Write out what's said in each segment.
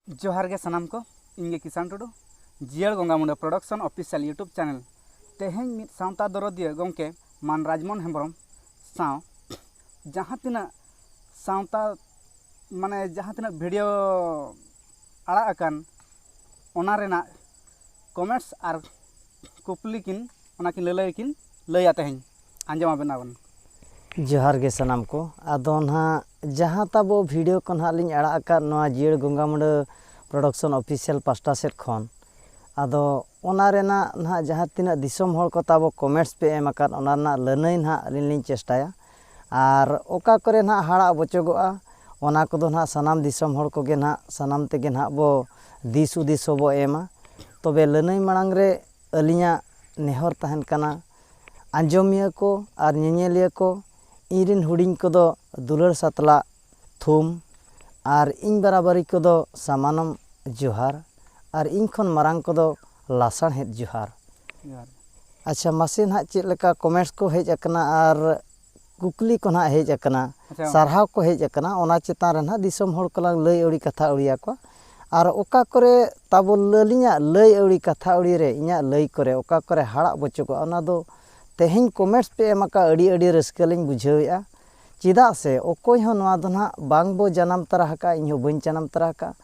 ᱡᱚᱦᱟᱨ ᱜᱮ ᱥᱟᱱᱟᱢ ᱠᱚ ᱤᱧ ᱜᱮ ᱠᱤᱥᱟᱱ ᱴᱩᱰᱩ ᱡᱤᱭᱟᱹᱲ ᱜᱚᱝᱜᱟ Munda production official YouTube channel ᱛᱮᱦᱮᱧ ᱢᱤᱫ ᱥᱟᱶᱛᱟ ᱫᱚᱨᱚᱫᱤᱭᱟᱹ ᱜᱚᱢᱠᱮ ᱢᱟᱱ ᱨᱟᱡᱽᱢᱳᱦᱚᱱ ᱦᱮᱢᱵᱨᱚᱢ ᱥᱟᱶ ᱡᱟᱦᱟᱸ ᱛᱤᱱᱟᱹᱜ ᱥᱟᱶᱛᱟ ᱢᱟᱱᱮ ᱡᱟᱦᱟᱸ ᱛᱤᱱᱟᱹᱜ ᱵᱷᱤᱰᱤᱭᱳ ᱟᱲᱟᱜ ᱟᱠᱟᱱ ᱚᱱᱟ ᱨᱮᱱᱟᱜ ᱠᱚᱢᱮᱱᱴᱥ ᱟᱨ ᱠᱩᱠᱞᱤ ᱠᱤᱱ ᱚᱱᱟ ᱠᱤᱱ ᱞᱟᱹᱞᱟᱹᱭ ᱠᱤᱱ ᱞᱟᱹᱭᱟ ᱛᱮᱦᱮᱧ ᱟᱸᱡᱚᱢ ᱟᱵᱮᱱ ᱟᱵᱚᱱ ᱡᱚᱦᱟᱨ ᱜᱮ ᱥᱟᱱᱟᱢ ᱠᱚ ᱟᱫᱚ ᱱᱟᱦᱟᱜ ᱡᱟᱦᱟᱸ ᱛᱟᱵᱚ ᱵᱷᱤᱰᱤᱭᱳ ᱠᱚ ᱱᱟᱦᱟᱜ ᱞᱤᱧ ᱟᱲᱟᱜ ᱟᱠᱟᱫ ᱱᱚᱣᱟ ᱡᱤᱭᱟᱹᱲ ᱜᱚᱝᱜᱟ ᱢᱩᱸᱰᱟᱹ ᱯᱨᱚᱰᱚᱠᱥᱚᱱ ᱚᱯᱷᱤᱥᱤᱭᱟᱞ ᱯᱟᱥᱴᱟ ᱥᱮᱫ ᱠᱷᱚᱱ ᱟᱫᱚ ᱚᱱᱟ ᱨᱮᱱᱟᱜ ᱱᱟᱦᱟᱜ ᱡᱟᱦᱟᱸ ᱛᱤᱱᱟᱹᱜ ᱫᱤᱥᱚᱢ ᱦᱚᱲ ᱠᱚ ᱛᱟᱵᱚ ᱠᱚᱢᱮᱱᱴᱥ ᱯᱮ ᱮᱢ ᱟᱠᱟᱫ ᱚᱱᱟ ᱨᱮᱱᱟᱜ ᱞᱟᱹᱱᱟᱹᱭ ᱱᱟᱦᱟᱜ ᱟᱹᱞᱤᱧ ᱞᱤᱧ ᱪᱮᱥᱴᱟᱭᱟ ᱟᱨ ᱚᱠᱟ ᱠᱚᱨᱮ ᱱᱟᱦᱟᱜ ᱦᱟᱲᱟᱜ ᱵᱚᱪᱚᱜᱚᱜᱼᱟ ᱚᱱᱟ ᱠᱚᱫᱚ ᱱᱟᱦᱟᱜ ᱥᱟᱱᱟᱢ ᱫᱤᱥᱚᱢ ᱦᱚᱲ ᱠᱚᱜᱮ ᱱᱟᱦᱟᱜ ᱥᱟᱱᱟᱢ ᱛᱮᱜᱮ ᱱᱟᱦᱟᱜ ᱵᱚ ᱫᱤᱥ ᱦᱩᱫᱤᱥ ᱦᱚᱸᱵᱚ ᱮᱢᱟ ᱛᱚᱵᱮ ᱞᱟᱹᱱᱟᱹᱭ ᱢᱟᱲᱟᱝ ᱨᱮ ᱟᱹᱞᱤᱧᱟᱜ ᱱᱮᱦᱚᱨ ᱛᱟᱦᱮᱱ ᱠᱟᱱᱟ ᱟᱸᱡᱚᱢᱤᱭᱟᱹ ᱠᱚ ᱟᱨ ᱧᱮᱧᱮᱞᱤᱭᱟᱹ ᱠᱚ ᱤᱧ ᱨᱮᱱ ᱦᱩᱰᱤᱧ ᱠᱚᱫᱚ ᱫᱩᱞᱟᱹᱲ ᱥᱟᱛᱞᱟᱜ ᱛᱷᱩᱢ ᱟᱨ ᱤᱧ ᱵᱟᱨᱟᱵᱟᱨᱤ ᱠᱚᱫᱚ ᱥᱟᱢᱟᱱᱚᱢ ᱡᱚᱦᱟᱨ ᱟᱨ ᱤᱧ ᱠᱷᱚᱱ ᱢᱟᱨᱟᱝ ᱠᱚᱫᱚ ᱞᱟᱥᱟᱬᱦᱮᱫ ᱡᱚᱦᱟᱨ᱾ ᱟᱪᱪᱷᱟ ᱢᱟᱥᱮ ᱱᱟᱦᱟᱜ ᱪᱮᱫ ᱞᱮᱠᱟ ᱠᱚᱢᱮᱱᱴᱥ ᱠᱚ ᱦᱮᱡ ᱟᱠᱟᱱᱟ ᱟᱨ ᱠᱩᱠᱞᱤ ᱠᱚ ᱱᱟᱦᱟᱜ ᱦᱮᱡ ᱟᱠᱟᱱᱟ ᱥᱟᱨᱦᱟᱣ ᱠᱚ ᱦᱮᱡ ᱟᱠᱟᱱᱟ ᱚᱱᱟ ᱪᱮᱛᱟᱱ ᱨᱮ ᱱᱟᱦᱟᱜ ᱫᱤᱥᱚᱢ ᱦᱚᱲ ᱠᱚᱞᱟᱝ ᱞᱟᱹᱭ ᱟᱹᱣᱲᱤ ᱠᱟᱛᱷᱟ ᱟᱹᱣᱲᱤ ᱟᱠᱚᱣᱟ ᱟᱨ ᱚᱠᱟ ᱠᱚᱨᱮ ᱛᱟᱵᱚ ᱟᱹᱞᱤᱧᱟᱜ ᱞᱟᱹᱭ ᱟᱹᱣᱲᱤ ᱠᱟᱛᱷᱟ ᱟᱹᱣᱲᱤ ᱨᱮ ᱤᱧᱟᱹᱜ ᱞᱟᱹᱭ ᱠᱚᱨᱮ ᱚᱠᱟ ᱠᱚᱨᱮ ᱦᱟᱲᱟᱜ ᱵᱚᱪᱚᱜᱚᱜᱼᱟ ᱚᱱᱟ ᱫᱚ ᱛᱮᱦᱮᱧ ᱠᱚᱢᱮᱱᱴᱥ ᱯᱮ ᱮᱢ ᱟᱠᱟᱫᱼᱟ ᱟᱹᱰᱤ ᱟᱹᱰᱤ ᱨᱟᱹᱥᱠᱟᱹ ᱞᱤᱧ ᱵᱩᱡᱷᱟᱹᱣᱮᱫᱼᱟ᱾ ᱪᱮᱫᱟᱜ ᱥᱮ ᱚᱠᱚᱭ ᱦᱚᱸ ᱱᱚᱣᱟ ᱫᱚ ᱱᱟᱦᱟᱜ ᱵᱟᱝ ᱵᱚ ᱡᱟᱱᱟᱢ ᱛᱟᱨᱟ ᱟᱠᱟᱫᱼᱟ ᱤᱧ ᱦᱚᱸ ᱵᱟᱹᱧ ᱡᱟᱱᱟᱢ ᱛᱟᱨᱟ ᱟᱠᱟᱫᱼᱟ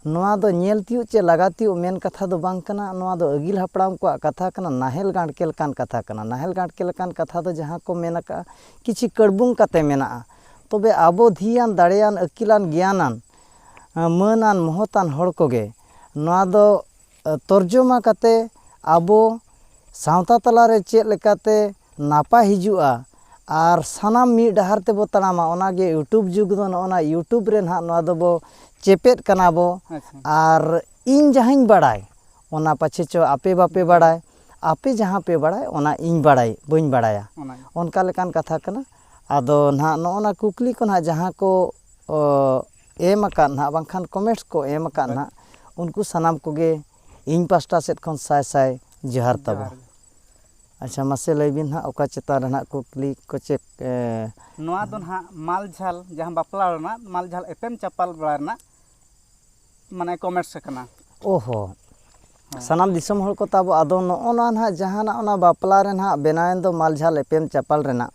ᱱᱚᱣᱟ ᱫᱚ ᱧᱮᱞ ᱛᱤᱭᱳᱜ ᱪᱮ ᱞᱟᱜᱟ ᱛᱤᱭᱳᱜ ᱢᱮᱱ ᱠᱟᱛᱷᱟ ᱫᱚ ᱵᱟᱝ ᱠᱟᱱᱟ ᱱᱚᱣᱟ ᱫᱚ ᱟᱹᱜᱤᱞ ᱦᱟᱯᱲᱟᱢ ᱠᱚᱣᱟᱜ ᱠᱟᱛᱷᱟ ᱠᱟᱱᱟ ᱱᱟᱦᱮᱞ ᱜᱟᱲᱠᱮ ᱞᱮᱠᱟᱱ ᱠᱟᱛᱷᱟ ᱠᱟᱱᱟ ᱱᱟᱦᱮᱞ ᱜᱟᱲᱠᱮ ᱞᱮᱠᱟᱱ ᱠᱟᱛᱷᱟ ᱫᱚ ᱡᱟᱦᱟᱸ ᱠᱚ ᱢᱮᱱ ᱟᱠᱟᱫᱼᱟ ᱠᱤᱪᱷᱩ ᱠᱟᱹᱲᱵᱩᱝ ᱠᱟᱛᱮ ᱢᱮᱱᱟᱜᱼᱟ ᱛᱚᱵᱮ ᱟᱵᱚ ᱫᱷᱤᱭᱟᱱ ᱫᱟᱲᱮᱭᱟᱱ ᱟᱹᱠᱤᱞᱟᱱ ᱜᱮᱭᱟᱱᱟᱱ ᱢᱟᱹᱱᱟᱱ ᱢᱚᱦᱚᱛᱟᱱ ᱦᱚᱲ ᱠᱚᱜᱮ ᱱᱚᱣᱟ ᱫᱚ ᱛᱚᱨᱡᱚᱢᱟ ᱠᱟᱛᱮ ᱟᱵᱚ ᱥᱟᱶᱛᱟ ᱛᱟᱞᱟ ᱨᱮ ᱪᱮᱫ ᱞᱮᱠᱟᱛᱮ ᱱᱟᱯᱟᱭ ᱦᱤᱡᱩᱜᱼᱟ ᱟᱨ ᱥᱟᱱᱟᱢ ᱢᱤᱫ ᱰᱟᱦᱟᱨ ᱛᱮᱵᱚ ᱛᱟᱲᱟᱢᱟ ᱚᱱᱟ ᱜᱮ ᱤᱭᱩᱴᱩᱵᱽ ᱡᱩᱜᱽ ᱫᱚ ᱱᱚᱜᱼᱚ ᱱᱟ ᱤᱭᱩᱴᱩᱵᱽ ᱨᱮ ᱱᱟᱦᱟᱜ ᱱᱚᱣᱟ ᱫᱚᱵᱚ ᱪᱮᱯᱮᱫ ᱠᱟᱱᱟ ᱵᱚ ᱟᱨ ᱤᱧ ᱡᱟᱦᱟᱸᱧ ᱵᱟᱲᱟᱭ ᱚᱱᱟ ᱯᱟᱪᱷᱮ ᱪᱚ ᱟᱯᱮ ᱵᱟᱯᱮ ᱵᱟᱲᱟᱭ ᱟᱯᱮ ᱡᱟᱦᱟᱸ ᱯᱮ ᱵᱟᱲᱟᱭ ᱚᱱᱟ ᱤᱧ ᱵᱟᱲᱟᱭ ᱵᱟᱹᱧ ᱵᱟᱲᱟᱭᱟ ᱚᱱᱠᱟ ᱞᱮᱠᱟᱱ ᱠᱟᱛᱷᱟ ᱠᱟᱱᱟ ᱟᱫᱚ ᱱᱟᱦᱟᱜ ᱱᱚᱜᱼᱚ ᱱᱟ ᱠᱩᱠᱞᱤ ᱠᱚ ᱱᱟᱦᱟᱜ ᱡᱟᱦᱟᱸ ᱠᱚ ᱮᱢ ᱟᱠᱟᱫ ᱱᱟᱦᱟᱜ ᱵᱟᱝᱠᱷᱟᱱ ᱠᱚᱢᱮᱱᱴᱥ ᱠᱚ ᱮᱢ ᱟᱠᱟᱫ ᱱᱟᱦᱟᱜ ᱩᱱᱠᱩ ᱥᱟᱱᱟᱢ ᱠᱚᱜᱮ ᱤᱧ ᱯᱟᱥᱴᱟ ᱥᱮᱫ ᱠᱷᱚᱱ ᱥᱟᱭ ᱥᱟᱭ ᱡᱚᱦᱟᱨ ᱛᱟᱵᱚ ᱟᱪᱪᱷᱟ ᱢᱟᱥᱮ ᱞᱟᱹᱭ ᱵᱤᱱ ᱱᱟᱦᱟᱜ ᱚᱠᱟ ᱪᱮᱛᱟᱱ ᱨᱮ ᱱᱟᱦᱟᱜ ᱠᱩᱠᱞᱤ ᱠᱚ ᱪᱮᱫ ᱱᱚᱣᱟ ᱫᱚ ᱱᱟᱦᱟᱜ ᱢᱟᱞ ᱡᱷᱟᱞ ᱡᱟᱦᱟᱸ ᱵᱟᱯᱞᱟ ᱨᱮᱱᱟᱜ ᱢᱟᱞ ᱡᱷᱟᱞ ᱮᱯᱮᱢ ᱪᱟᱯᱟᱞ ᱵᱟᱲᱟ ᱨᱮᱱᱟᱜ ᱢᱟᱱᱮ ᱠᱚᱢᱮᱨᱥ ᱠᱟᱱᱟ ᱚᱦᱚ ᱥᱟᱱᱟᱢ ᱫᱤᱥᱚᱢ ᱦᱚᱲ ᱠᱚ ᱛᱟᱵᱚ ᱟᱫᱚ ᱱᱚᱜᱼᱚ ᱱᱚᱣᱟ ᱱᱟᱦᱟᱜ ᱡᱟᱦᱟᱱᱟᱜ ᱚᱱᱟ ᱵᱟᱯᱞᱟ ᱨᱮ ᱱᱟᱦᱟᱜ ᱵᱮᱱᱟᱣᱮᱱ ᱫᱚ ᱢᱟᱞ ᱡᱷᱟᱞ ᱮᱯᱮᱢ ᱪᱟᱯᱟᱞ ᱨᱮᱱᱟᱜ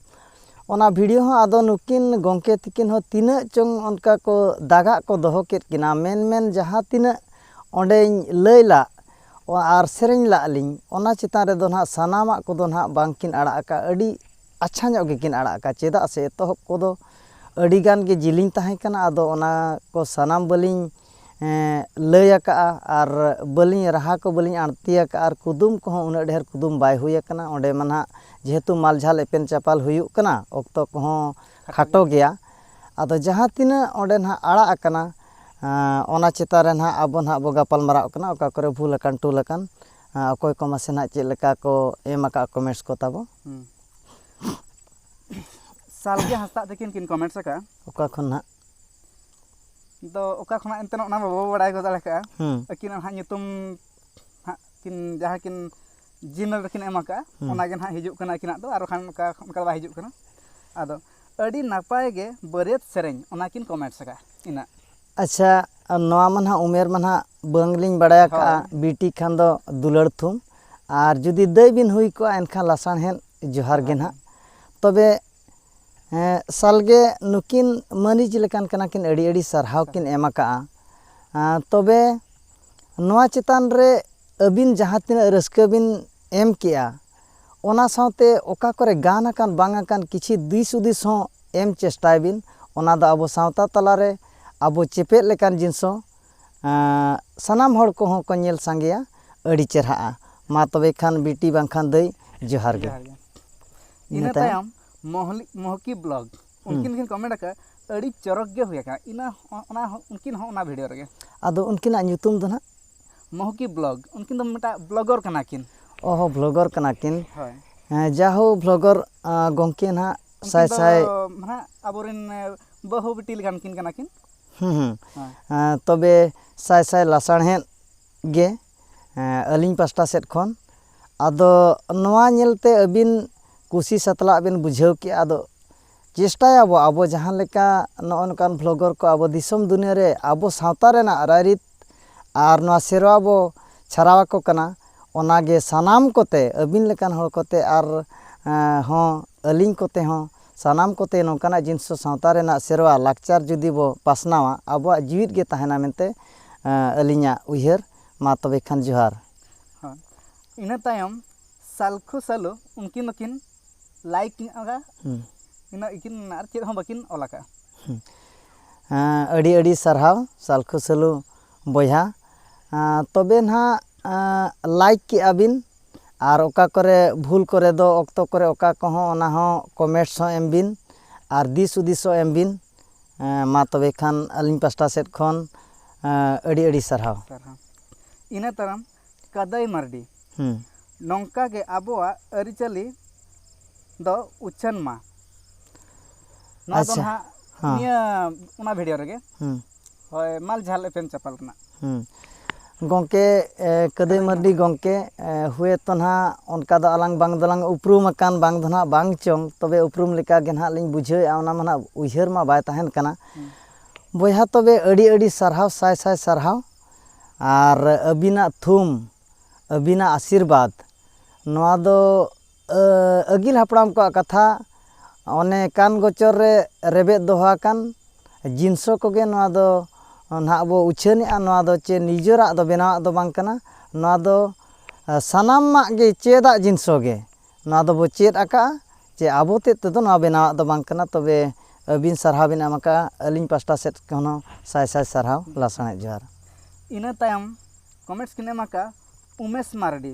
ᱚᱱᱟ ᱵᱷᱤᱰᱭᱳ ᱦᱚᱸ ᱟᱫᱚ ᱱᱩᱠᱤᱱ ᱜᱚᱢᱠᱮ ᱛᱤᱠᱤᱱ ᱦᱚᱸ ᱛᱤᱱᱟᱹᱜ ᱪᱚᱝ ᱚᱱᱠᱟ ᱠᱚ ᱫᱟᱜᱟᱜ ᱠᱚ ᱫᱚᱦᱚ ᱠᱮᱫ ᱠᱤᱱᱟ ᱢᱮᱱ ᱢᱮᱱ ᱡᱟᱦᱟᱸ ᱛᱤᱱᱟᱹᱜ ᱚᱸᱰᱮᱧ ᱞᱟᱹᱭ ᱞᱟᱜ ᱟᱨ ᱥᱮᱨᱮᱧ ᱞᱟᱜ ᱞᱤᱧ ᱚᱱᱟ ᱪᱮᱛᱟᱱ ᱨᱮᱫᱚ ᱱᱟᱦᱟᱜ ᱥᱟᱱᱟᱢᱟᱜ ᱠᱚᱫᱚ ᱱᱟᱦᱟᱜ ᱵᱟᱝᱠᱤᱱ ᱟᱲᱟᱜ ᱟᱠᱟᱫᱼᱟ ᱟᱹᱰᱤ ᱟᱪᱪᱷᱟ ᱧᱚᱜ ᱜᱮᱠᱤᱱ ᱟᱲᱟᱜ ᱟᱠᱟᱫᱼᱟ ᱪᱮᱫᱟᱜ ᱥᱮ ᱮᱛᱚᱦᱚᱵ ᱠᱚᱫᱚ ᱟᱹᱰᱤ ᱜᱟᱱ ᱜᱮ ᱡᱤᱞᱤᱧ ᱛᱟᱦᱮᱸ ᱠᱟᱱᱟ ᱟᱫᱚ ᱚᱱᱟ ᱠᱚ ᱥᱟᱱᱟᱢ ᱵᱟᱹᱞᱤᱧ ᱞᱟᱹᱭ ᱟᱠᱟᱫᱼᱟ ᱟᱨ ᱵᱟᱹᱞᱤᱧ ᱨᱟᱦᱟ ᱠᱚ ᱵᱟᱹᱞᱤᱧ ᱟᱬᱛᱤ ᱟᱠᱟᱫᱼᱟ ᱟᱨ ᱠᱩᱫᱩᱢ ᱠᱚᱦᱚᱸ ᱩᱱᱟᱹᱜ ᱰᱷᱮᱨ ᱠᱩᱫᱩᱢ ᱵᱟᱭ ᱦᱩᱭ ᱟᱠᱟᱱᱟ ᱚᱸᱰᱮ ᱢᱟ ᱱᱟᱦᱟᱜ ᱡᱮᱦᱮᱛᱩ ᱢᱟᱞ ᱡᱷᱟᱞ ᱮᱯᱮᱢ ᱪᱟᱯᱟᱞ ᱦᱩᱭᱩᱜ ᱠᱟᱱᱟ ᱚᱠᱛᱚ ᱠᱚᱦᱚᱸ ᱠᱷᱟᱴᱚ ᱜᱮᱭᱟ ᱟᱫᱚ ᱡᱟᱦᱟᱸ ᱛᱤᱱᱟᱹᱜ ᱚᱸᱰᱮ ᱱᱟᱦᱟᱜ ᱟᱲᱟᱜ ᱟᱠᱟᱱᱟ ᱚᱱᱟ ᱪᱮᱛᱟᱱ ᱨᱮ ᱱᱟᱦᱟᱜ ᱟᱵᱚ ᱱᱟᱦᱟᱜ ᱵᱚᱱ ᱜᱟᱯᱟᱞᱢᱟᱨᱟᱣᱜ ᱠᱟᱱᱟ ᱚᱠᱟ ᱠᱚᱨᱮ ᱵᱷᱩᱞ ᱟᱠᱟᱱ ᱴᱩᱞ ᱟᱠᱟᱱ ᱚᱠᱚᱭ ᱠᱚ ᱢᱟᱥᱮ ᱱᱟᱜ ᱪᱮᱫ ᱞᱮᱠᱟ ᱠᱚ ᱮᱢ ᱟᱠᱟᱫ ᱠᱚᱢᱮᱱᱴᱥ ᱠᱚ ᱛᱟᱵᱚ ᱥᱟᱞᱜᱮ ᱦᱟᱸᱥᱫᱟᱜ ᱛᱟᱹᱠᱤᱱ ᱠᱤᱱ ᱠᱚᱢᱮᱱᱴᱥ ᱟᱠᱟᱫᱼᱟ ᱚᱠᱟ ᱠᱷᱚᱱ ᱱᱟᱜ ᱫᱚ ᱚᱠᱟ ᱠᱷᱚᱱᱟᱜ ᱮᱱᱛᱮ ᱚᱱᱟ ᱢᱟ ᱵᱟᱵᱚ ᱵᱟᱲᱟᱭ ᱜᱚᱫ ᱫᱟᱲᱮ ᱠᱟᱜᱼᱟ ᱟᱹᱠᱤᱱᱟᱜ ᱱᱟᱦᱟᱜ ᱧᱩᱛᱩᱢ ᱦᱟᱸᱜ ᱠᱤᱱ ᱡᱟᱦᱟᱸ ᱠᱤᱱ ᱡᱤᱢᱮᱞ ᱨᱮᱠᱤᱱ ᱮᱢ ᱟᱠᱟᱫᱼᱟ ᱚᱱᱟᱜᱮ ᱱᱟᱦᱟᱜ ᱦᱤᱡᱩᱜ ᱠᱟᱱᱟ ᱟᱹᱠᱤᱱᱟᱜ ᱫᱚ ᱟᱨ ᱵᱟᱠᱷᱟᱱ ᱚᱱᱠᱟ ᱚᱱᱠᱟ ᱫᱚ ᱵᱟᱭ ᱦᱤᱡᱩᱜ ᱠᱟᱱᱟ ᱟᱫᱚ ᱟᱹᱰᱤ ᱱᱟᱯᱟᱭ ᱜᱮ ᱵᱟᱹᱨᱭᱟᱹᱛ ᱥᱮᱨᱮᱧ ᱚᱱᱟᱠᱤᱱ ᱠᱚᱢᱮᱱᱴᱥ ᱟᱠᱟᱫᱼᱟ ᱤᱱᱟᱹᱜ ᱟᱪᱪᱷᱟ ᱱᱚᱣᱟ ᱢᱟ ᱱᱟᱦᱟᱜ ᱩᱢᱮᱨ ᱢᱟ ᱱᱟᱦᱟᱜ ᱵᱟᱝᱞᱤᱧ ᱵᱟᱲᱟᱭ ᱟᱠᱟᱫᱼᱟ ᱵᱤᱴᱤ ᱠᱷᱟᱱ ᱫᱚ ᱫᱩᱞᱟᱹᱲ ᱛᱷᱩᱢ ᱟᱨ ᱡᱩᱫᱤ ᱫᱟᱹᱭ ᱵᱤᱱ ᱦᱩᱭ ᱠᱚᱜᱼᱟ ᱮᱱᱠᱷᱟᱱ ᱞᱟᱥᱟᱲᱦᱮᱫ ᱡᱚᱦᱟᱨ ᱜᱮ ᱱᱟᱦᱟᱜ ᱛᱚᱵᱮ ᱥᱟᱞᱜᱮ ᱱᱩᱠᱤᱱ ᱢᱟᱹᱞᱤᱠ ᱞᱮᱠᱟᱱ ᱠᱟᱱᱟ ᱠᱤᱱ ᱟᱹᱰᱤ ᱟᱹᱰᱤ ᱥᱟᱨᱦᱟᱣ ᱠᱤᱱ ᱮᱢ ᱟᱠᱟᱫᱼᱟ ᱛᱚᱵᱮ ᱱᱚᱣᱟ ᱪᱮᱛᱟᱱ ᱨᱮ ᱟᱹᱵᱤᱱ ᱡᱟᱦᱟᱸ ᱛᱤᱱᱟᱹᱜ ᱨᱟᱹᱥᱠᱟᱹ ᱵᱤᱱ ᱮᱢ ᱠᱮᱫᱼᱟ ᱚᱱᱟ ᱥᱟᱶᱛᱮ ᱚᱠᱟ ᱠᱚᱨᱮ ᱜᱟᱱ ᱟᱠᱟᱱ ᱵᱟᱝ ᱟᱠᱟᱱ ᱠᱤᱪᱷᱤ ᱫᱤᱥ ᱦᱩᱫᱤᱥ ᱦᱚᱸ ᱮᱢ ᱪᱮᱥᱴᱟᱭ ᱵᱤᱱ ᱚᱱᱟ ᱫᱚ ᱟᱵᱚ ᱥᱟᱶᱛᱟ ᱛᱟᱞᱟ ᱨᱮ ᱟᱵᱚ ᱪᱮᱯᱮᱫ ᱞᱮᱠᱟᱱ ᱡᱤᱱᱤᱥ ᱦᱚᱸ ᱥᱟᱱᱟᱢ ᱦᱚᱲ ᱠᱚᱦᱚᱸ ᱠᱚ ᱧᱮᱞ ᱥᱟᱸᱜᱮᱭᱟ ᱟᱹᱰᱤ ᱪᱮᱨᱦᱟᱜᱼᱟ ᱢᱟ ᱛᱚᱵᱮ ᱠᱷᱟᱱ ᱵᱤᱴᱤ ᱵᱟᱝ ᱠᱷᱟᱱ ᱫᱟᱹᱭ ᱡᱚᱦᱟᱨ ᱜᱮ ᱤᱱᱟᱹ ᱛᱟᱭᱚᱢ ᱢᱚᱦᱞᱤ ᱢᱚᱦᱠᱤ ᱵᱞᱚᱜ ᱩᱱᱠᱤᱱ ᱠᱤᱱ ᱠᱚᱢᱮᱱᱴ ᱟᱠᱟᱫ ᱟᱹᱰᱤ ᱪᱚᱨᱚᱠ ᱜᱮ ᱦᱩᱭ ᱟᱠᱟᱱᱟ ᱤᱱᱟᱹ ᱚᱱᱟ ᱩᱱᱠᱤᱱ ᱦᱚᱸ ᱚᱱᱟ ᱵᱷᱤᱰᱤᱭᱳ ᱨᱮᱜᱮ ᱟᱫᱚ ᱩᱱᱠᱤᱱᱟᱜ ᱧᱩᱛᱩᱢ ᱫᱚ ᱱᱟᱦᱟᱜ ᱢᱚᱦᱩᱠᱤ ᱵᱞᱚᱜ ᱩᱱᱠᱤᱱ ᱫᱚ ᱢᱤᱫᱴᱟᱝ ᱵᱞᱚᱜᱚᱨ ᱠᱟᱱᱟ ᱠᱤᱱ ᱚ ᱦᱚᱸ ᱵᱞᱚᱜᱚᱨ ᱠᱟᱱᱟ ᱠᱤᱱ ᱦᱳᱭ ᱡᱟᱦᱳ ᱵᱞᱚᱜᱚᱨ ᱜᱚᱢᱠᱮ ᱱᱟᱦᱟᱜ ᱥᱟᱭ ᱥᱟᱭ ᱱᱟᱦᱟᱜ ᱟᱵᱚᱨᱮᱱ ᱵᱟᱹᱦᱩ ᱵᱤᱴᱤ ᱞᱮᱠᱟᱱ ᱠᱤᱱ ᱠᱟᱱᱟ ᱠᱤᱱ ᱦᱩᱸ ᱦᱩᱸ ᱛᱚᱵᱮ ᱥᱟᱭ ᱥᱟᱭ ᱞᱟᱥᱟᱲᱦᱮᱫ ᱜᱮ ᱟᱹᱞᱤᱧ ᱯᱟᱥᱴᱟ ᱥᱮᱫ ᱠᱷᱚᱱ ᱟᱫᱚ ᱱᱚᱣᱟ ᱧᱮᱞᱛᱮ ᱟᱹᱵᱤᱱ ᱠᱩᱥᱤ ᱥᱟᱛᱞᱟᱜ ᱵᱤᱱ ᱵᱩᱡᱷᱟᱹᱣ ᱠᱮᱜᱼᱟ ᱟᱫᱚ ᱪᱮᱥᱴᱟᱭᱟᱵᱚ ᱟᱵᱚ ᱡᱟᱦᱟᱸ ᱞᱮᱠᱟ ᱱᱚᱜᱼᱚ ᱱᱚᱝᱠᱟᱱ ᱵᱷᱞᱚᱜᱚᱨ ᱠᱚ ᱟᱵᱚ ᱫᱤᱥᱚᱢ ᱫᱩᱱᱤᱭᱟᱹ ᱨᱮ ᱟᱵᱚ ᱥᱟᱶᱛᱟ ᱨᱮᱱᱟᱜ ᱨᱟᱭᱨᱤᱛ ᱟᱨ ᱱᱚᱣᱟ ᱥᱮᱨᱣᱟ ᱵᱚ ᱪᱷᱟᱨᱟᱣ ᱟᱠᱚ ᱠᱟᱱᱟ ᱚᱱᱟ ᱜᱮ ᱥᱟᱱᱟᱢ ᱠᱚᱛᱮ ᱟᱹᱵᱤᱱ ᱞᱮᱠᱟᱱ ᱦᱚᱲ ᱠᱚᱛᱮ ᱟᱨ ᱦᱚᱸ ᱟᱹᱞᱤᱧ ᱠᱚᱛᱮ ᱦᱚᱸ ᱥᱟᱱᱟᱢ ᱠᱚᱛᱮ ᱱᱚᱝᱠᱟᱱᱟᱜ ᱡᱤᱱᱤᱥ ᱠᱚ ᱥᱟᱶᱛᱟ ᱨᱮᱱᱟᱜ ᱥᱮᱨᱣᱟ ᱞᱟᱠᱪᱟᱨ ᱡᱩᱫᱤ ᱵᱚ ᱯᱟᱥᱱᱟᱣᱟ ᱟᱵᱚᱣᱟᱜ ᱡᱤᱣᱤᱫ ᱜᱮ ᱛᱟᱦᱮᱱᱟ ᱢᱮᱱᱛᱮ ᱟᱹᱞᱤᱧᱟᱜ ᱩᱭᱦᱟᱹᱨ ᱢᱟ ᱛᱚᱵᱮ ᱠᱷᱟᱱ ᱡᱚᱦᱟᱨ ᱦᱮᱸ ᱤᱱᱟᱹ ᱛᱟᱭᱚᱢ ᱥᱟᱞᱠᱷᱩ ᱥᱟᱞᱩ ᱩᱱᱠᱤᱱ ᱫᱚᱠᱤᱱ ᱞᱟᱭᱤᱠ ᱠᱤᱱ ᱮᱢ ᱟᱠᱟᱫᱟ ᱤᱱᱟᱹᱜ ᱜᱮᱠᱤᱱ ᱟᱨ ᱪᱮᱫ ᱦᱚᱸ ᱵᱟᱹᱠᱤᱱ ᱚᱞ ᱟᱠᱟᱫᱼᱟ ᱟᱹᱰᱤ ᱟᱹᱰᱤ ᱥᱟᱨᱦᱟᱣ ᱥᱟᱞᱠᱷᱩ ᱥᱟᱹᱞᱩ ᱵᱚᱭᱦᱟ ᱛᱚᱵᱮ ᱱᱟᱦᱟᱜ ᱞᱟᱭᱤᱠ ᱠᱮᱫᱼᱟ ᱵᱤᱱ ᱟᱨ ᱚᱠᱟ ᱠᱚᱨᱮ ᱵᱷᱩᱞ ᱠᱚᱨᱮ ᱫᱚ ᱚᱠᱛᱚ ᱠᱚᱨᱮ ᱚᱠᱟ ᱠᱚᱦᱚᱸ ᱚᱱᱟ ᱦᱚᱸ ᱠᱚᱢᱮᱱᱴᱥ ᱦᱚᱸ ᱮᱢ ᱵᱤᱱ ᱟᱨ ᱫᱤᱥ ᱦᱩᱫᱤᱥ ᱦᱚᱸ ᱮᱢ ᱵᱤᱱ ᱢᱟ ᱛᱚᱵᱮ ᱠᱷᱟᱱ ᱟᱹᱞᱤᱧ ᱯᱟᱥᱴᱟ ᱥᱮᱫ ᱠᱷᱚᱱ ᱟᱹᱰᱤ ᱟᱹᱰᱤ ᱥᱟᱨᱦᱟᱣ ᱤᱱᱟᱹ ᱛᱟᱭᱚᱢ ᱠᱟᱹᱫᱟᱹᱭ ᱢᱟᱨᱰᱤ᱾ ᱱᱚᱝᱠᱟ ᱜᱮ ᱟᱵᱚᱣᱟᱜ ᱟᱹᱨᱤᱪᱟᱹᱞᱤ ᱫᱚ ᱩᱪᱷᱟᱹᱱ ᱢᱟ᱾ ᱱᱚᱣᱟ ᱫᱚ ᱱᱟᱦᱟᱜ ᱱᱤᱭᱟᱹ ᱚᱱᱟ ᱵᱷᱤᱰᱤᱭᱳ ᱨᱮᱜᱮ ᱦᱳᱭ ᱢᱟᱞ ᱡᱷᱟᱞ ᱮᱯᱮᱢ ᱪᱟᱯᱟᱞ ᱨᱮᱱᱟᱜ᱾ ᱜᱚᱢᱠᱮ ᱠᱟᱹᱫᱟᱹᱭ ᱢᱟᱨᱰᱤ ᱜᱚᱢᱠᱮ ᱦᱩᱭᱮ ᱛᱚ ᱱᱟᱦᱟᱜ ᱚᱱᱠᱟ ᱫᱚ ᱟᱞᱟᱝ ᱵᱟᱝ ᱫᱚᱞᱟᱝ ᱩᱯᱨᱩᱢ ᱟᱠᱟᱱ ᱵᱟᱝ ᱫᱚ ᱱᱟᱦᱟᱜ ᱵᱟᱝ ᱪᱚᱝ ᱛᱚᱵᱮ ᱩᱯᱨᱩᱢ ᱞᱮᱠᱟ ᱜᱮ ᱱᱟᱦᱟᱜ ᱞᱤᱧ ᱵᱩᱡᱷᱟᱹᱣᱮᱫᱼᱟ ᱚᱱᱟ ᱢᱟ ᱱᱟᱦᱟᱜ ᱩᱭᱦᱟᱹᱨ ᱢᱟ ᱵᱟᱭ ᱛᱟᱦᱮᱱ ᱠᱟᱱᱟ᱾ ᱵᱚᱭᱦᱟ ᱛᱚᱵᱮ ᱟᱹᱰᱤ ᱟᱹᱰᱤ ᱥᱟᱨᱦᱟᱣ ᱥᱟᱭ ᱥᱟᱭ ᱥᱟᱨᱦᱟᱣ᱾ ᱟᱨ ᱟᱹᱵᱤᱱᱟᱜ ᱛᱷᱩᱢ ᱟᱹᱵᱤᱱᱟᱜ ᱟᱥᱤᱨᱵᱟᱫᱽ ᱱᱚᱣᱟ ᱫᱚ ᱟᱹᱜᱤᱞ ᱦᱟᱯᱲᱟᱢ ᱠᱚᱣᱟᱜ ᱠᱟᱛᱷᱟ ᱚᱱᱮ ᱠᱟᱱ ᱜᱚᱪᱚᱨ ᱨᱮ ᱨᱮᱵᱮᱫ ᱫᱚᱦᱚ ᱟᱠᱟᱱ ᱡᱤᱱᱥᱥᱚ ᱠᱚᱜᱮ ᱱᱚᱣᱟ ᱫᱚ ᱱᱟᱦᱟᱜ ᱵᱚ ᱩᱪᱷᱟᱹᱱᱮᱜᱼᱟ ᱱᱚᱣᱟ ᱫᱚ ᱪᱮ ᱱᱤᱡᱮᱨᱟᱜ ᱫᱚ ᱵᱮᱱᱟᱣᱟᱜ ᱫᱚ ᱵᱟᱝ ᱠᱟᱱᱟ ᱱᱚᱣᱟ ᱫᱚ ᱥᱟᱱᱟᱢᱟᱜ ᱜᱮ ᱪᱮᱫᱟᱜ ᱡᱤᱱᱥᱥᱚ ᱜᱮ ᱱᱚᱣᱟ ᱫᱚᱵᱚ ᱪᱮᱫ ᱟᱠᱟᱫᱼᱟ ᱡᱮ ᱟᱵᱚ ᱛᱮᱫ ᱛᱮᱫᱚ ᱱᱚᱣᱟ ᱵᱮᱱᱟᱣᱟᱜ ᱫᱚ ᱵᱟᱝ ᱠᱟᱱᱟ ᱛᱚᱵᱮ ᱟᱹᱵᱤᱱ ᱥᱟᱨᱦᱟᱣ ᱵᱤᱱ ᱮᱢ ᱟᱠᱟᱫᱼᱟ ᱟᱹᱞᱤᱧ ᱯᱟᱥᱴᱟ ᱥᱮᱫ ᱠᱷᱚᱱ ᱦᱚᱸ ᱥᱟᱭ ᱥᱟᱭ ᱥᱟᱨᱦᱟᱣ ᱞᱟᱥᱟᱬᱦᱮᱫ ᱡᱚᱦᱟᱨ ᱤᱱᱟᱹ ᱛᱟᱭᱚᱢ ᱠᱚᱢᱮᱱᱴᱥ ᱠᱤᱱ ᱮᱢ ᱟᱠᱟᱫᱼᱟ ᱩᱢᱮᱥ ᱢᱟᱨᱰᱤ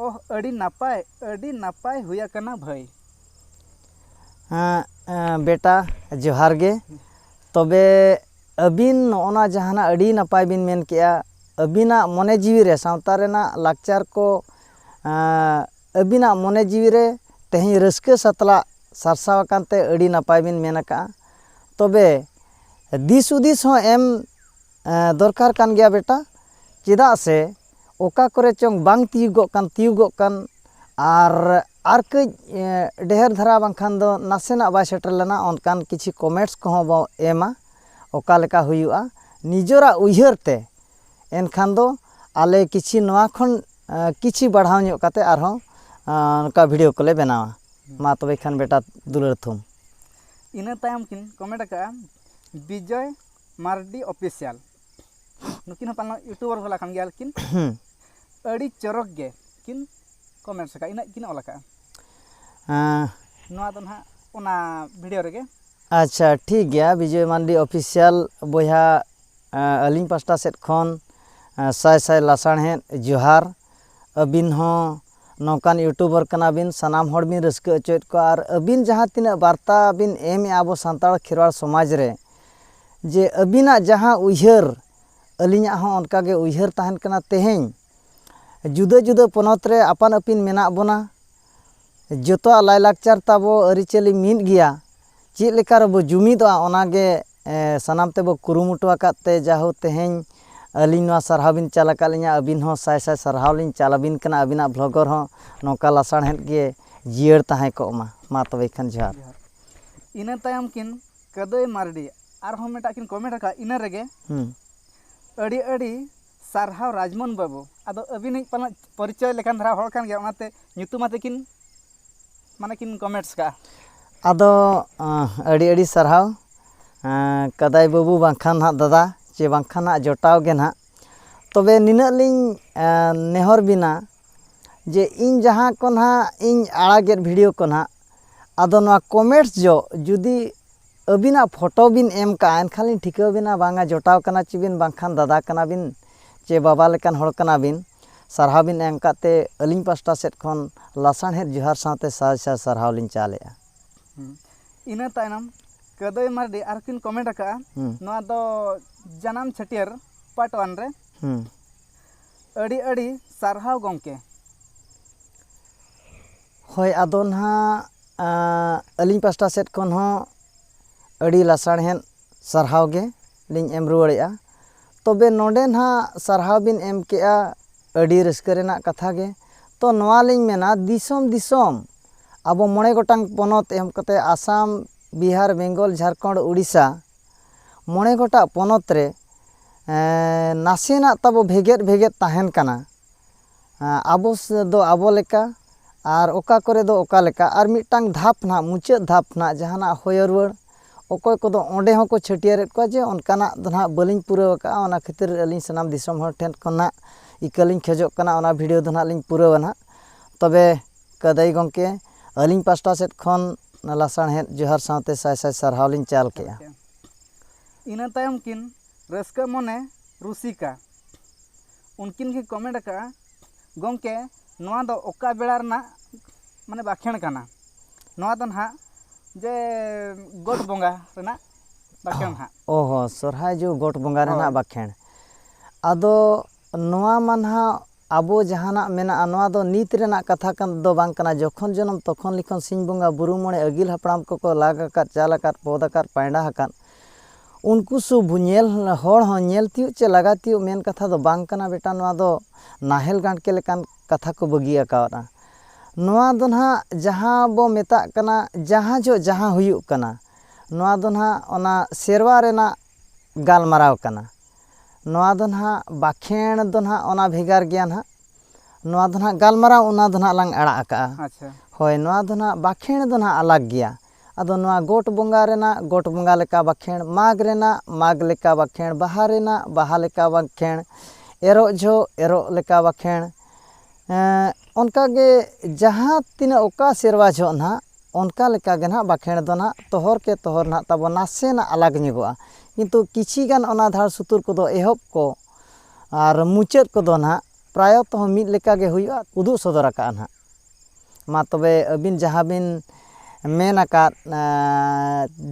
ᱚᱦ ᱟᱹᱰᱤ ᱱᱟᱯᱟᱭ ᱟᱹᱰᱤ ᱱᱟᱯᱟᱭ ᱦᱩᱭ ᱟᱠᱟᱱᱟ ᱵᱷᱟᱹᱭ ᱵᱮᱴᱟ ᱡᱚᱦᱟᱨ ᱜᱮ ᱛᱚᱵᱮ ᱟᱹᱵᱤᱱ ᱱᱚᱜᱼᱚ ᱱᱟ ᱡᱟᱦᱟᱱᱟᱜ ᱟᱹᱰᱤ ᱱᱟᱯᱟᱭ ᱵᱤᱱ ᱢᱮᱱ ᱠᱮᱫᱼᱟ ᱟᱹᱵᱤᱱᱟᱜ ᱢᱚᱱᱮ ᱡᱤᱣᱤ ᱨᱮ ᱥᱟᱶᱛᱟ ᱨᱮᱱᱟᱜ ᱞᱟᱠᱪᱟᱨ ᱠᱚ ᱟᱹᱵᱤᱱᱟᱜ ᱢᱚᱱᱮ ᱡᱤᱣᱤ ᱨᱮ ᱛᱮᱦᱮᱧ ᱨᱟᱹᱥᱠᱟᱹ ᱥᱟᱛᱞᱟᱜ ᱥᱟᱨᱥᱟᱣ ᱟᱠᱟᱱ ᱛᱮ ᱟᱹᱰᱤ ᱱᱟᱯᱟᱭ ᱵᱤᱱ ᱢᱮᱱ ᱟᱠᱟᱫᱼᱟ ᱛᱚᱵᱮ ᱫᱤᱥ ᱦᱩᱫᱤᱥ ᱦᱚᱸ ᱮᱢ ᱫᱚᱨᱠᱟᱨ ᱠᱟᱱ ᱜᱮᱭᱟ ᱵᱮᱴᱟ ᱪᱮᱫᱟᱜ ᱥᱮ ᱚᱠᱟ ᱠᱚᱨᱮ ᱪᱚᱝ ᱵᱟᱝ ᱛᱤᱭᱩᱜᱚᱜ ᱠᱟᱱ ᱛᱤᱭᱩᱜᱚᱜ ᱠᱟᱱ ᱟᱨ ᱟᱨ ᱠᱟᱹᱡ ᱰᱷᱮᱨ ᱫᱷᱟᱨᱟ ᱵᱟᱝᱠᱷᱟᱱ ᱫᱚ ᱱᱟᱥᱮᱱᱟᱜ ᱵᱟᱭ ᱥᱮᱴᱮᱨ ᱞᱮᱱᱟ ᱚᱱᱠᱟᱱ ᱠᱤᱪᱷᱩ ᱠᱚᱢᱮᱱᱴᱥ ᱠᱚᱦᱚᱸ ᱵᱚ ᱮᱢᱟ ᱚᱠᱟ ᱞᱮᱠᱟ ᱦᱩᱭᱩᱜᱼᱟ ᱱᱤᱡᱚᱨᱟᱜ ᱩᱭᱦᱟᱹᱨ ᱛᱮ ᱮᱱᱠᱷᱟᱱ ᱫᱚ ᱟᱞᱮ ᱠᱤᱪᱷᱤ ᱱᱚᱣᱟ ᱠᱷᱚᱱ ᱠᱤᱪᱷᱤ ᱵᱟᱲᱦᱟᱣ ᱧᱚᱜ ᱠᱟᱛᱮ ᱟᱨᱦᱚᱸ ᱱᱚᱝᱠᱟ ᱵᱷᱤᱰᱤᱭᱳ ᱠᱚᱞᱮ ᱵᱮᱱᱟᱣᱟ ᱢᱟ ᱛᱚᱵᱮ ᱠᱷᱟᱱ ᱵᱮᱴᱟ ᱫᱩᱞᱟᱹᱲ ᱛᱷᱩᱢ ᱤᱱᱟᱹ ᱛᱟᱭᱚᱢ ᱠᱤᱱ ᱠᱚᱢᱮᱱᱴ ᱟᱠᱟᱫᱼᱟ ᱵᱤᱡᱚᱭ ᱢᱟᱨᱰᱤ ᱚᱯᱷᱤᱥᱤᱭᱟᱞ ᱱᱩᱠᱤᱱ ᱦᱚᱸ ᱯᱟᱞᱮᱱ ᱤᱭᱩᱴᱩᱵᱟᱨ ᱵᱟᱞᱟ ᱠᱟᱱ ᱜᱮᱭᱟ ᱠᱤᱱ ᱟᱹᱰᱤ ᱪᱚᱨᱚᱠ ᱜᱮ ᱠᱤᱱ ᱠᱚᱢᱮᱱᱴ ᱟᱠᱟᱫᱼᱟ ᱤᱱᱟᱹᱜ ᱠᱤᱱ ᱚᱞ ᱟᱠᱟᱫᱼᱟ ᱱᱚᱣᱟ ᱫᱚ ᱱᱟᱦᱟᱜ ᱚᱱᱟ ᱵᱷᱤᱰᱤᱭᱳ ᱨᱮᱜᱮ ᱟᱪᱪᱷᱟ ᱴᱷᱤᱠ ᱜᱮᱭᱟ ᱵᱤᱡᱚᱭ ᱢᱟᱱᱰᱤ ᱚᱯᱷᱤᱥᱤᱭᱟᱞ ᱵᱚᱭᱦᱟ ᱟᱹᱞᱤᱧ ᱯᱟᱥᱴᱟ ᱥᱮᱫ ᱠᱷᱚᱱ ᱥᱟᱭ ᱥᱟᱭ ᱞᱟᱥᱟᱲᱦᱮᱫ ᱡᱚᱦᱟᱨ ᱟᱹᱵᱤᱱ ᱦᱚᱸ ᱱᱚᱝᱠᱟᱱ ᱤᱭᱩᱴᱩᱵᱟᱨ ᱠᱟᱱᱟᱵᱤᱱ ᱥᱟᱱᱟᱢ ᱦᱚᱲ ᱵᱤᱱ ᱨᱟᱹᱥᱠᱟᱹ ᱦᱚᱪᱚᱭᱮᱫ ᱠᱚᱣᱟ ᱟᱨ ᱟᱹᱵᱤᱱ ᱡᱟᱦᱟᱸ ᱛᱤᱱᱟᱹᱜ ᱵᱟᱨᱛᱟ ᱵᱤᱱ ᱮᱢᱮᱜᱼᱟ ᱟᱵᱚ ᱥᱟᱱᱛᱟᱲ ᱠᱷᱮᱨᱣᱟᱲ ᱥᱚᱢᱟᱡᱽ ᱨᱮ ᱡᱮ ᱟᱹᱵᱤᱱᱟᱜ ᱡᱟᱦᱟᱸ ᱩᱭᱦᱟᱹᱨ ᱟᱹᱞᱤᱧᱟᱜ ᱦᱚᱸ ᱚᱱᱠᱟ ᱜᱮ ᱩᱭᱦᱟᱹᱨ ᱛᱟᱦᱮᱱ ᱠᱟᱱᱟ ᱛᱮᱦᱮᱧ ᱡᱩᱫᱟᱹ ᱡᱩᱫᱟᱹ ᱯᱚᱱᱚᱛ ᱨᱮ ᱟᱯᱟᱱ ᱟᱹᱯᱤᱱ ᱢᱮᱱᱟᱜ ᱵᱚᱱᱟ ᱡᱚᱛᱚᱣᱟᱜ ᱞᱟᱭ ᱞᱟᱠᱪᱟᱨ ᱛᱟᱵᱚ ᱟᱹᱨᱤᱪᱟᱹᱞᱤ ᱢᱤᱫ ᱜᱮᱭᱟ ᱪᱮᱫ ᱞᱮᱠᱟ ᱨᱮᱵᱚ ᱡᱩᱢᱤᱫᱚᱜᱼᱟ ᱚᱱᱟ ᱜᱮ ᱥᱟᱱᱟᱢ ᱛᱮᱵᱚ ᱠᱩᱨᱩᱢᱩᱴᱩ ᱟᱠᱟᱫ ᱛᱮ ᱡᱟᱦᱳ ᱛᱮᱦᱮᱧ ᱟᱹᱞᱤᱧ ᱱᱚᱣᱟ ᱥᱟᱨᱦᱟᱣ ᱵᱤᱱ ᱪᱟᱞ ᱟᱠᱟᱫ ᱞᱤᱧᱟᱹ ᱟᱹᱵᱤᱱ ᱦᱚᱸ ᱥᱟᱭ ᱥᱟᱭ ᱥᱟᱨᱦᱟᱣ ᱞᱤᱧ ᱪᱟᱞ ᱟᱹᱵᱤᱱ ᱠᱟᱱᱟ ᱟᱹᱵᱤᱱᱟᱜ ᱵᱷᱚᱜᱚᱨ ᱦᱚᱸ ᱱᱚᱝᱠᱟ ᱞᱟᱥᱟᱲᱦᱮᱫ ᱜᱮ ᱡᱤᱭᱟᱹᱲ ᱛᱟᱦᱮᱸ ᱠᱚᱜ ᱢᱟ ᱢᱟ ᱛᱚᱵᱮ ᱠᱷᱟᱱ ᱡᱚᱦᱟᱨ ᱤᱱᱟᱹ ᱛᱟᱭᱚᱢ ᱠᱤᱱ ᱠᱟᱹᱫᱟᱹᱭ ᱢᱟᱨᱰᱤ ᱟᱨᱦᱚᱸ ᱢᱤᱫᱴᱟᱝ ᱠᱤᱱ ᱠᱚᱢᱮᱱᱴ ᱟᱠᱟᱫᱼᱟ ᱤᱱᱟᱹ ᱨᱮᱜᱮ ᱟᱹᱰᱤ ᱟᱹᱰᱤ ᱥᱟᱨᱦᱟᱣ ᱨᱟᱡᱽᱢᱳᱦᱚᱱ ᱵᱟᱹᱵᱩ ᱟᱫᱚ ᱟᱹᱵᱤᱱᱤᱡ ᱯᱟᱞᱮᱱ ᱯᱚᱨᱤᱪᱚᱭ ᱞᱮᱠᱟᱱ ᱫᱷᱟᱨᱟ ᱦᱚᱲ ᱠᱟᱱ ᱜᱮᱭᱟᱭ ᱚᱱᱟᱛᱮ ᱧᱩᱛᱩᱢ ᱟᱛᱮᱫ ᱠᱤᱱ ᱢᱟᱱᱮ ᱠᱤᱱ ᱠᱚᱢᱮᱱᱴᱥ ᱠᱟᱜᱼᱟ ᱟᱫᱚ ᱟᱹᱰᱤ ᱟᱹᱰᱤ ᱥᱟᱨᱦᱟᱣ ᱠᱟᱫᱟᱭ ᱵᱟᱹᱵᱩ ᱵᱟᱝᱠᱷᱟᱱ ᱦᱟᱸᱜ ᱫᱟᱫᱟ ᱪᱮ ᱵᱟᱝᱠᱷᱟᱱ ᱦᱟᱸᱜ ᱡᱚᱴᱟᱣ ᱜᱮ ᱦᱟᱸᱜ ᱛᱚᱵᱮ ᱱᱤᱱᱟᱹᱜ ᱞᱤᱧ ᱱᱮᱦᱚᱨ ᱵᱮᱱᱟ ᱡᱮ ᱤᱧ ᱡᱟᱦᱟᱸ ᱠᱚ ᱦᱟᱸᱜ ᱤᱧ ᱟᱲᱟᱜᱮᱫ ᱵᱷᱤᱰᱤᱭᱳ ᱠᱚ ᱦᱟᱸᱜ ᱟᱫᱚ ᱱᱚᱣᱟ ᱠᱚᱢᱮᱱᱴᱥ ᱡᱚᱦᱚᱜ ᱡᱩᱫᱤ ᱟᱹᱵᱤᱱᱟᱜ ᱯᱷᱚᱴᱚ ᱵᱤᱱ ᱮᱢ ᱠᱟᱜᱼᱟ ᱮᱱᱠᱷᱟᱱ ᱞᱤᱧ ᱴᱷᱤᱠᱟᱹ ᱵᱤᱱᱟ ᱵᱟᱝᱟ ᱡᱚᱴᱟᱣ ᱠᱟᱱᱟ ᱪᱚ ᱵᱤᱱ ᱵᱟᱝᱠᱷᱟᱱ ᱫᱟᱫᱟ ᱠᱟᱱᱟ ᱵᱤᱱ ᱪᱮ ᱵᱟᱵᱟ ᱞᱮᱠᱟᱱ ᱦᱚᱲ ᱠᱟᱱᱟ ᱵᱤᱱ ᱥᱟᱨᱦᱟᱣ ᱵᱤᱱ ᱮᱢ ᱠᱟᱜ ᱛᱮ ᱟᱹᱞᱤᱧ ᱯᱟᱥᱴᱟ ᱥᱮᱫ ᱠᱷᱚᱱ ᱞᱟᱥᱟᱲᱦᱮᱫ ᱡᱚᱦᱟᱨ ᱥᱟᱶᱛᱮ ᱥᱟᱭ ᱥᱟᱭ ᱥᱟᱨᱦᱟᱣ ᱞᱤᱧ ᱪᱟᱞᱮᱜᱼᱟ ᱤᱱᱟᱹ ᱛᱟᱭᱱᱚᱢ ᱠᱟᱹᱫᱟᱹᱭ ᱢᱟᱨᱰᱤ ᱟᱨ ᱠᱤᱱ ᱠᱚᱢᱮᱱᱴ ᱟᱠᱟᱜᱼᱟ ᱱᱚᱣᱟ ᱫᱚ ᱡᱟᱱᱟᱢ ᱪᱷᱟᱹᱴᱭᱟᱹᱨ ᱯᱟᱨᱴ ᱚᱣᱟᱱ ᱨᱮ ᱟᱹᱰᱤ ᱟᱹᱰᱤ ᱥᱟᱨᱦᱟᱣ ᱜᱚᱢᱠᱮ ᱦᱳᱭ ᱟᱫᱚ ᱱᱟᱦᱟᱜ ᱟᱹᱞᱤᱧ ᱯᱟᱥᱴᱟ ᱥᱮᱫ ᱠᱷᱚᱱ ᱦᱚᱸ ᱟᱹᱰᱤ ᱞᱟᱥᱟᱲᱦᱮᱸᱫ ᱥᱟᱨᱦᱟᱣ ᱜᱮ ᱞᱤᱧ ᱮᱢ ᱨᱩᱣᱟᱹᱲᱮᱜᱼᱟ ᱛᱚᱵᱮ ᱱᱚᱰᱮ ᱱᱟᱜ ᱥᱟᱨᱦᱟᱣ ᱵᱤᱱ ᱮᱢ ᱠᱮᱜᱼᱟ ᱟᱹᱰᱤ ᱨᱟᱹᱥᱠᱟᱹ ᱨᱮᱱᱟᱜ ᱠᱟᱛᱷᱟ ᱜᱮ ᱛᱚ ᱱᱚᱣᱟ ᱞᱤᱧ ᱢᱮᱱᱟ ᱫᱤᱥᱚᱢ ᱫᱤᱥᱚᱢ ᱟᱵᱚ ᱢᱚᱬᱮ ᱜᱚᱴᱟᱝ ᱯᱚᱱᱚᱛ ᱮᱢ ᱠᱟᱛᱮ ᱟᱥᱟᱢ ᱵᱤᱦᱟᱨ ᱵᱮᱝᱜᱚᱞ ᱡᱷᱟᱲᱠᱷᱚᱸᱰ ᱳᱰᱤᱥᱟ ᱢᱚᱬᱮ ᱜᱚᱴᱟᱝ ᱯᱚᱱᱚᱛ ᱨᱮ ᱱᱟᱥᱮᱱᱟᱜ ᱛᱟᱵᱚ ᱵᱷᱮᱜᱮᱫ ᱵᱷᱮᱜᱮᱫ ᱛᱟᱦᱮᱱ ᱠᱟᱱᱟ ᱟᱵᱚ ᱫᱚ ᱟᱵᱚ ᱞᱮᱠᱟ ᱟᱨ ᱚᱠᱟ ᱠᱚᱨᱮ ᱫᱚ ᱚᱠᱟ ᱞᱮᱠᱟ ᱟᱨ ᱢᱤᱫᱴᱟᱝ ᱫᱷᱟᱯ ᱱᱟᱦᱟᱜ ᱢᱩᱪᱟᱹᱫ ᱫᱷᱟᱯ ᱱᱟᱦᱟᱜ ᱡᱟᱦᱟᱱᱟᱜ ᱦᱚᱭᱚ ᱨᱩᱣᱟᱹᱲ ᱚᱠᱚᱭ ᱠᱚᱫᱚ ᱚᱸᱰᱮ ᱦᱚᱸᱠᱚ ᱪᱷᱟᱹᱴᱭᱟᱹᱨᱮᱫ ᱠᱚᱣᱟ ᱡᱮ ᱚᱱᱠᱟᱱᱟᱜ ᱫᱚ ᱱᱟᱦᱟᱜ ᱵᱟᱹᱞᱤᱧ ᱯᱩᱨᱟᱹᱣ ᱠᱟᱜᱼᱟ ᱚᱱᱟ ᱠᱷᱟᱹᱛᱤᱨ ᱟᱹᱞᱤᱧ ᱥᱟᱱᱟᱢ ᱫᱤᱥᱚᱢ ᱦᱚᱲ ᱴᱷᱮᱱ ᱠᱷᱚᱱᱟᱜ ᱤᱠᱟᱹ ᱞᱤᱧ ᱠᱷᱚᱡᱚᱜ ᱠᱟᱱᱟ ᱚᱱᱟ ᱵᱷᱤᱰᱭᱳ ᱫᱚ ᱱᱟᱦᱟᱜ ᱞᱤᱧ ᱯᱩᱨᱟᱹᱣᱟ ᱱᱟᱦᱟᱜ ᱛᱚᱵᱮ ᱠᱟᱹᱫᱟᱹᱭ ᱜᱚᱢᱠᱮ ᱟᱹᱞᱤᱧ ᱯᱟᱥᱴᱟ ᱥᱮᱫ ᱠᱷᱚᱱ ᱞᱟᱥᱟᱬᱦᱮᱫ ᱡᱚᱦᱟᱨ ᱥᱟᱶᱛᱮ ᱥᱟᱭ ᱥᱟᱭ ᱥᱟᱨᱦᱟᱣ ᱞᱤᱧ ᱪᱟᱞ ᱠᱮᱜᱼᱟ ᱤᱱᱟᱹ ᱛᱟᱭᱚᱢ ᱠᱤᱱ ᱨᱟᱹᱥᱠᱟᱹ ᱢᱚᱱᱮ ᱨᱩᱥᱤᱠᱟ ᱩᱱᱠᱤᱱ ᱠᱤᱱ ᱠᱚᱢᱮᱱᱴ ᱟᱠᱟᱫᱼᱟ ᱜᱚᱢᱠᱮ ᱱᱚᱣᱟ ᱫᱚ ᱚᱠᱟ ᱵᱮᱲᱟ ᱨᱮᱱᱟᱜ ᱢᱟᱱᱮ ᱵᱟᱠᱷᱮᱬ ᱠᱟᱱᱟ ᱱᱚᱣᱟ ᱫᱚ ᱱᱟᱦᱟᱜ ᱡᱮ ᱜᱚᱴ ᱵᱚᱸᱜᱟ ᱨᱮᱱᱟᱜ ᱵᱟᱠᱷᱮᱬ ᱦᱟᱸᱜ ᱚ ᱦᱚᱸ ᱥᱚᱨᱦᱟᱭ ᱡᱚᱦᱚᱜ ᱜᱚᱴ ᱵᱚᱸᱜᱟ ᱨᱮᱱᱟᱜ ᱵᱟᱠᱷᱮᱬ ᱟᱫᱚ ᱱᱚᱣᱟ ᱢᱟ ᱱᱟᱦᱟᱜ ᱟᱵᱚ ᱡᱟᱦᱟᱱᱟᱜ ᱢᱮᱱᱟᱜᱼᱟ ᱱᱚᱣᱟ ᱫᱚ ᱱᱤᱛ ᱨᱮᱱᱟᱜ ᱠᱟᱛᱷᱟ ᱫᱚ ᱵᱟᱝ ᱠᱟᱱᱟ ᱡᱚᱠᱷᱚᱱ ᱡᱚᱱᱚᱢ ᱛᱚᱠᱷᱚᱱ ᱞᱤᱠᱷᱚᱱ ᱥᱤᱧ ᱵᱚᱸᱜᱟ ᱵᱩᱨᱩ ᱢᱚᱬᱮ ᱟᱹᱜᱤᱞ ᱦᱟᱯᱲᱟᱢ ᱠᱚᱠᱚ ᱞᱟᱜᱽ ᱟᱠᱟᱫ ᱪᱟᱞ ᱟᱠᱟᱫ ᱯᱚᱫᱽ ᱟᱠᱟᱫ ᱯᱟᱭᱰᱟ ᱟᱠᱟᱫ ᱩᱱᱠᱩ ᱥᱩᱫ ᱧᱮᱞ ᱦᱚᱲ ᱦᱚᱸ ᱧᱮᱞ ᱛᱤᱭᱳᱜ ᱪᱮ ᱞᱟᱜᱟ ᱛᱤᱭᱳᱜ ᱢᱮᱱ ᱠᱟᱛᱷᱟ ᱫᱚ ᱵᱟᱝ ᱠᱟᱱᱟ ᱵᱮᱴᱟ ᱱᱚᱣᱟ ᱫᱚ ᱱᱟᱦᱮᱞ ᱜᱟᱲᱠᱮ ᱞᱮᱠᱟᱱ ᱠᱟᱛᱷᱟ ᱠᱚ ᱵᱟᱹᱜᱤ ᱟᱠᱟᱫᱼᱟ ᱱᱚᱣᱟ ᱫᱚ ᱱᱟᱦᱟᱜ ᱡᱟᱦᱟᱸ ᱵᱚ ᱢᱮᱛᱟᱜ ᱠᱟᱱᱟ ᱡᱟᱦᱟᱸ ᱡᱚᱦᱚᱜ ᱡᱟᱦᱟᱸ ᱦᱩᱭᱩᱜ ᱠᱟᱱᱟ ᱱᱚᱣᱟ ᱫᱚ ᱱᱟᱦᱟᱜ ᱚᱱᱟ ᱥᱮᱨᱣᱟ ᱨᱮᱱᱟᱜ ᱜᱟᱞᱢᱟᱨᱟᱣ ᱠᱟᱱᱟ ᱱᱚᱣᱟ ᱫᱚ ᱱᱟᱦᱟᱜ ᱵᱟᱠᱷᱮᱬ ᱫᱚ ᱱᱟᱦᱟᱜ ᱚᱱᱟ ᱵᱷᱮᱜᱟᱨ ᱜᱮᱭᱟ ᱱᱟᱦᱟᱜ ᱱᱚᱣᱟ ᱫᱚ ᱱᱟᱦᱟᱜ ᱜᱟᱞᱢᱟᱨᱟᱣ ᱚᱱᱟ ᱫᱚ ᱱᱟᱦᱟᱜ ᱞᱟᱝ ᱟᱲᱟᱜ ᱟᱠᱟᱫᱼᱟ ᱟᱪᱪᱷᱟ ᱦᱳᱭ ᱱᱚᱣᱟ ᱫᱚ ᱱᱟᱦᱟᱜ ᱵᱟᱠᱷᱮᱬ ᱫᱚ ᱱᱟᱦᱟᱜ ᱟᱞᱟᱜᱽ ᱜᱮᱭᱟ ᱟᱫᱚ ᱱᱚᱣᱟ ᱜᱚᱴ ᱵᱚᱸᱜᱟ ᱨᱮᱱᱟᱜ ᱜᱚᱴ ᱵᱚᱸᱜᱟ ᱞᱮᱠᱟ ᱵᱟᱠᱷᱮᱬ ᱢᱟᱜᱽ ᱨᱮᱱᱟᱜ ᱢᱟᱜᱽ ᱞᱮᱠᱟ ᱵᱟᱠᱷᱮᱬ ᱵᱟᱦᱟ ᱨᱮᱱᱟᱜ ᱵᱟᱦᱟ ᱞᱮᱠᱟ ᱵᱟᱠᱷᱮᱬ ᱮᱨᱚᱜ ᱡᱚᱦᱚᱜ ᱮᱨᱚᱜ ᱞᱮᱠᱟ ᱵᱟᱠᱷᱮᱬ ᱚᱱᱠᱟᱜᱮ ᱡᱟᱦᱟᱸ ᱛᱤᱱᱟᱹᱜ ᱚᱠᱟ ᱥᱮᱨᱣᱟ ᱡᱚᱦᱚᱜ ᱱᱟᱦᱟᱜ ᱚᱱᱠᱟ ᱞᱮᱠᱟ ᱜᱮ ᱱᱟᱦᱟᱜ ᱵᱟᱠᱷᱮᱬ ᱫᱚ ᱱᱟᱦᱟᱜ ᱛᱚᱦᱚᱨ ᱠᱮ ᱛᱚᱦᱚᱨ ᱱᱟᱦᱟᱜ ᱛᱟᱵᱚ ᱱᱟᱥᱮᱱᱟᱜ ᱟᱞᱟᱜᱽ ᱧᱚᱜᱚᱜᱼᱟ ᱠᱤᱱᱛᱩ ᱠᱤᱪᱷᱤ ᱜᱟᱱ ᱚᱱᱟ ᱫᱷᱟᱲ ᱥᱩᱛᱩᱨ ᱠᱚᱫᱚ ᱮᱦᱚᱵ ᱠᱚ ᱟᱨ ᱢᱩᱪᱟᱹᱫ ᱠᱚᱫᱚ ᱱᱟᱦᱟᱜ ᱯᱨᱟᱭᱚᱛᱚ ᱦᱚᱸ ᱢᱤᱫ ᱞᱮᱠᱟ ᱜᱮ ᱦᱩᱭᱩᱜᱼᱟ ᱩᱫᱩᱜ ᱥᱚᱫᱚᱨ ᱟᱠᱟᱜᱼᱟ ᱱᱟᱦᱟᱜ ᱢᱟ ᱛᱚᱵᱮ ᱟᱹᱵᱤᱱ ᱡᱟᱦᱟᱸ ᱵᱤᱱ ᱢᱮᱱ ᱟᱠᱟᱫ